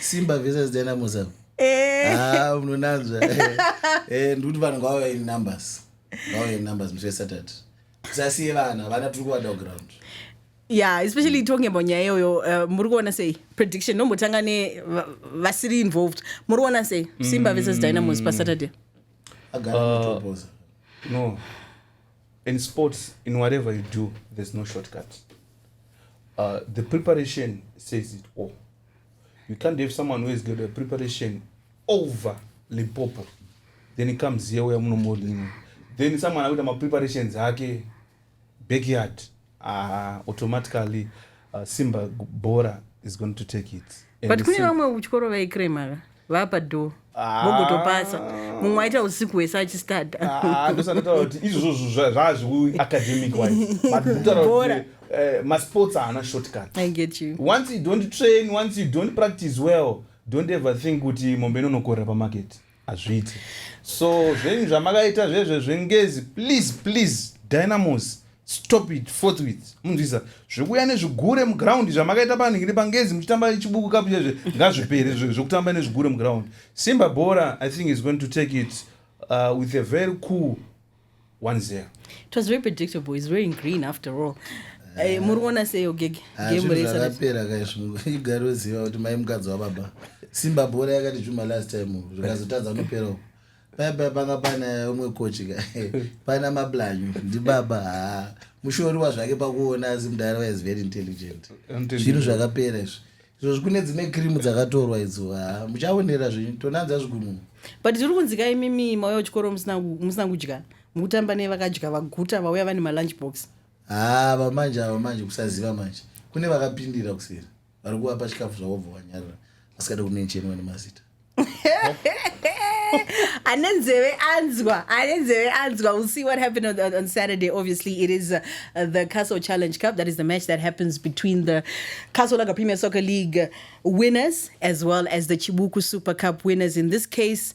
simba versus dynamos avo Eh. Ah, munonanzva Eh, ndikuti vanhu ngavauya in numbers ngavauya in numbers musi wesatata tisasiye vana vana tiri kuvada kuground yeah especially talking about nyaya iyoyo uh, muri kuona sei prediction nombotanga ne va- vasiri involved muri kuona sei simba versus dynamos pasaturday agara Ah. matopoza No. In sports, in whatever you do, there's no shortcut. Uh, the preparation says it all. you can't have someone who has got a preparation over limpopo then it comes here uya munomodini then someone akuita mapreparations ake backyard uh, automatically uh, simba bora is going to take it but kune vamwe kuchikoro vaikremaka vapa door Ah. mogotopasa mumwe aita usiku hwese achistada Ah, ah, ndosandataura kuti izvozvo zva- zvazvekuacademic wise but kutaura Bhora. kuti eh, masports haana shortcut i get you once you don't train once you don't practice well don't ever think kuti mombe inonokorera pamarket hazviiti so zvenyu zvamakaita zvezve zvengezi please please dynamos stop it forthwith munzwisa zvekuuya nezvigure muground zvamakaita panhingiri pangezi muchitamba chibuku kapu chezve ngazvipere zvekutamba nezvigure muground simba bhora i think is going to take it uh, with a very cool one zero it was very predictable is wearing green after all eh, eh, muri kuona seyo gege ah, gemureapera kaizvoigari oziva kuti mai mukadzi wababa simba bhora yakati zvuma last time zvikazotadza unopera uko paipai panga pana umwe kochi ka pana mablanyu ndibaba haa mushoriwa zvake pakuona asi mudhara waiz very intelligent zvinhu zvakapera izvi izvozvi kune dzimwe krimu dzakatorwa idzo haa muchaonera zvinyu tonanza zvigununu but tiri kunzika imimi mauya kuchikoro musina kudya mukutamba nei vakadya vaguta vauya vane malunch box haa vamanje ava manje kusaziva manje kune vakapindira kuseri vari kuvapa chikafu zvavobva vanyarira asikade kumenchenwa nemazita ane nzeve anzwa ane nzeve anzwa we'll see what happened on, on, on saturday obviously it is uh, the castle challenge cup that is the match that happens between the castle laga premier soccer league winners as well as the chibuku super cup winners in this case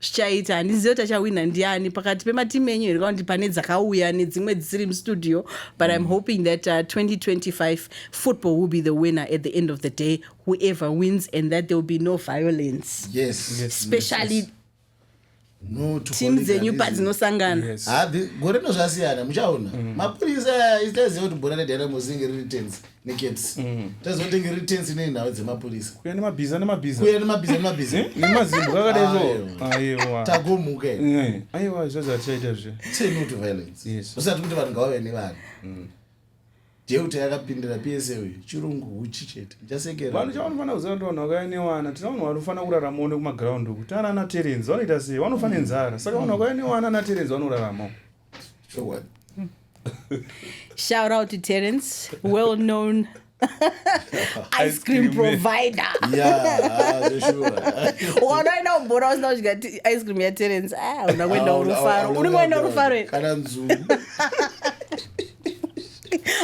zvichaita handizive kuti achawina ndiani pakati pematimu enyu here kaundi pane dzakauya nedzimwe dzisiri mustudio but im mm. hoping that uh, 2025 football will be the winner at the end of the day whoever wins and that there will be no violence yes especially yes, yes no timu dzenyu padzinosangana ah, gore rino zvasiyana muchaona mm. mapurisa itaziva kuti bhora redyana muzingi riri tenzi naked mm. tazotenge retensi nei nhau dzemapurisa kuya nemabhiza nemabhiza kuya nemabhiza nemabhiza eh? nemazimbo kakadaiwo aiwa tagomuka eh, aiwa izvozvo hatichaita zve tenu to violence yes usati kuti vanhu ngavave nevanhu mm. deuta yakapindira psa uyu chirungu huchi chete ndichasekera vanhu chavanofanira kuziva kuti vanhu vakauya newana tina vanhu vanofanira kurarama one kumaground uku tana ana terenzi vanoita sei vanofanira nzara saka vanhu vakauya newana ana terenzi vanorarama chokwadi shout out to terence well known ice cream provider wanoenda umbora usina kudya ice cream yaterence ah, una kuenda urufaro uri kuenda urufaro kana nzuu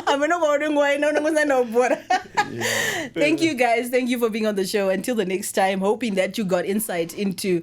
ameno kwauri nguva ino unenge usaenda ubhora thank you guys thank you for being on the show until the next time hoping that you got insight into